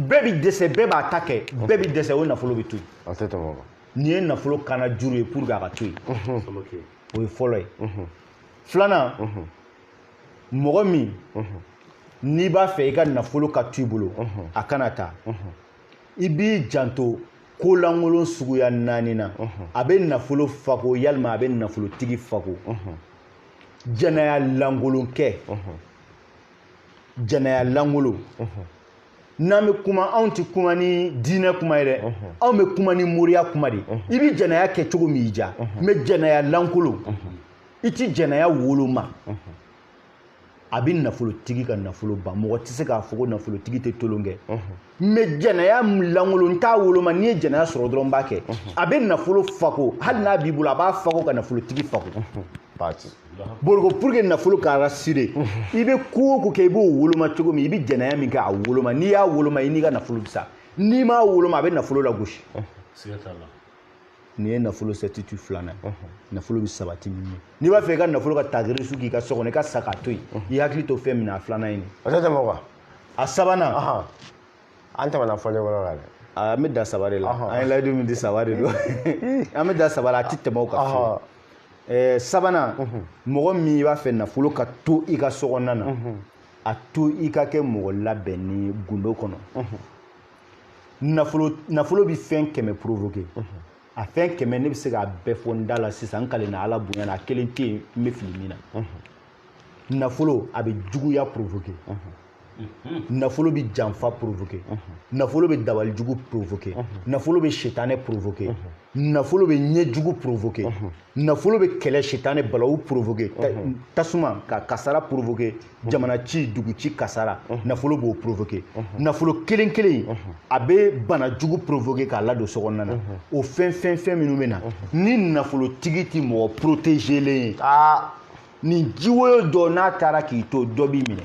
bɛɛ bɛ dɛsɛ bɛɛ b'a ta kɛ bɛɛ bɛ dɛsɛ o nafolo bɛ to yen nin ye nafolo kanna juru ye pour que a ka to yen o ye fɔlɔ ye filanan mɔgɔ min n'i b'a fɛ i ka nafolo ka to i bolo a kana taa i b'i janto ko lankolon suguya naani na a bɛ nafolo fako yalima a bɛ nafolotigi fako jɛnɛya lankolon kɛ jɛnɛya lankolon n'an bɛ kuma anw tɛ kuma ni diinɛ kuma ye dɛ anw bɛ kuma ni moriya kuma de i bɛ jɛnɛya kɛ cogo min y'i diya mais jɛnɛya lankolon i tɛ jɛnɛya woloma a bɛ nafolotigi ka nafolo ban mɔgɔ tɛ se k'a fɔ ko nafolotigi tɛ tolon kɛ mais jɛnɛya lankolon t'a woloma n'i ye jɛnɛya sɔrɔ dɔrɔn b'a kɛ a bɛ nafolo fako hali n'a b'i bolo a b'a fako ka nafolotigi fako boroko pour que nafolo ka rassurer i bɛ ko o ko kɛ i b'o woloma cogo min i bɛ jɛnɛya min kɛ a woloma n'i y'a woloma i n'i ka nafolo bɛ sa n'i m'a woloma a bɛ nafolo lagosi nin ye nafolo certitude filanan ye nafolo bɛ sabati min ye n'i b'a fɛ i ka nafolo ka tagiri su k'i ka so kɔnɔ i ka sa k'a to yen i hakili to fɛn min na a filanan ye nin o tɛ tɛmɛ o kan a sabanan an tɛmɛna fɔlen yɔrɔ la dɛ an bɛ dan saba de la an ye layidu min di saba de don an bɛ dan saba la a tɛ tɛmɛ o kan fiyewu ɛɛ sabanan mɔgɔ min i b'a fɛ nafolo ka to i ka so kɔnɔna na a to i ka kɛ mɔgɔ labɛnnen ye gundo kɔnɔ nafolo nafolo bɛ fɛn kɛmɛ provoquer a fɛn kɛmɛ ne bɛ se k'a bɛɛ fɔ n da la sisan n kalenna ala bonya na a kelen tɛ yen n bɛ fili min na nafolo a bɛ juguya provoquer nafolo bɛ janfa provoquer nafolo bɛ dabali jugu provoquer nafolo bɛ sitanɛ provoquer nafolo bɛ ɲɛ jugu provoquer nafolo bɛ kɛlɛ sitanɛ balawu provoquer tasuma ka kasara provoquer jamana ci dugu ci kasara nafolo b'o provoquer nafolo kelen kelen a bɛ bana jugu provoquer k'a ladon so kɔnɔna na o fɛn fɛn fɛn minnu bɛ na ni nafolotigi tɛ mɔgɔ protéger len ye aa nin jiwoyo dɔ n'a taara k'i to dɔ b'i minɛ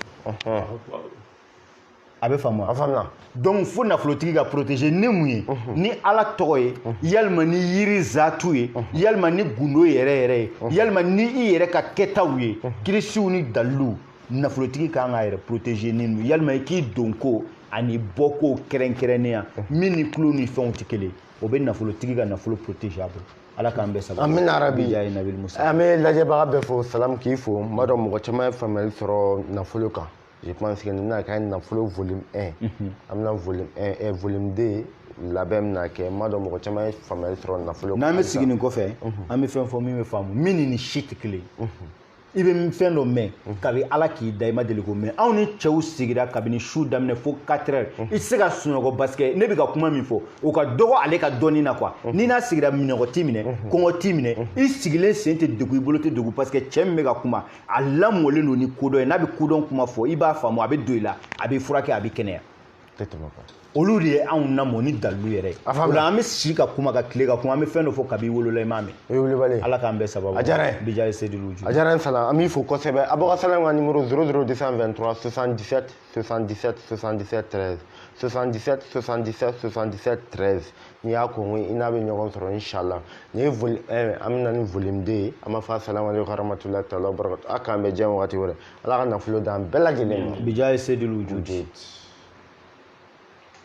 a bɛ faamu a faamuna donc fo nafolotigi ka protéger ni mun ye mhm. ni ala tɔgɔ ye mhm. yalima ni yiri zatu ye mhm. yalima ni gundo yɛrɛ yɛrɛ ye yalima ni i yɛrɛ ka kɛtaw ye kirisiw ni daliluw nafolotigi ka kan k'a yɛrɛ protéger ni nu yalima i k'i donko ani bɔko kɛrɛnkɛrɛnnenya min ni tulo ni fɛnw tɛ kelen o bɛ nafolotigi ka nafolo protéger a bolo ala k'an bɛɛ sababu amina yarabi an bɛ lajɛbaga bɛɛ fo salamu k'i fo n b'a dɔn mɔgɔ caman ye faamuyali sɔrɔ nafolo kan je pense que nin bɛna kɛ nafolo volume 1 mhm. an bɛna volume 1 et eh, volume 2 labɛn bɛna kɛ n b'a dɔn mɔgɔ caman ye faamuyali sɔrɔ nafolo n'an bɛ sigi nin kɔfɛ mhm. an bɛ fɛn fɔ min bɛ faamu min ni nin si tɛ kelen mhm. i bɛ fɛn dɔ mɛn kabi ala k'i da i ma deli k'o mɛn anw ni cɛw sigira kabini su daminɛ fo 4 heures i tɛ se ka sunɔgɔ parce que ne bɛ ka kuma min fɔ o ka dɔgɔ ale ka dɔnni na quoi n'i n'a sigira minnɔgɔ t'i minɛ kɔngɔ t'i minɛ i sigilen sen tɛ degun i bolo tɛ degun parce que cɛ min bɛ ka kuma a lamɔlen don ni kodɔn ye n'a bɛ kodɔn kuma fɔ i b'a faamu a bɛ don i la a bɛ furakɛ a bɛ kɛnɛya olu de ye anw lamɔ ni dalilu yɛrɛ ye o la an bɛ si ka kuma ka tilen ka kuma an bɛ fɛn dɔ fɔ kabi i wolola i m'a mɛn o ye wulibali ye ala k'an bɛɛ sababu a diyara n ye bijaye sedilu ju a diyara n fana an b'i fo kosɛbɛ abɔkasala ka nimoro 00 223 77 77 77 13 77 77 77 13 n'i y'a kɔn i n'a bɛ ɲɔgɔn sɔrɔ inshallah nin ye volume 1 an bɛna ni volume 2 ye an b'a fɔ asalamu aleykum warahmatulahi taala wabarakatu a k'an bɛɛ jɛn wagati wɛrɛ ala ka nafolo d'an bɛɛ lajɛlen ma bijaye sedulu wujudi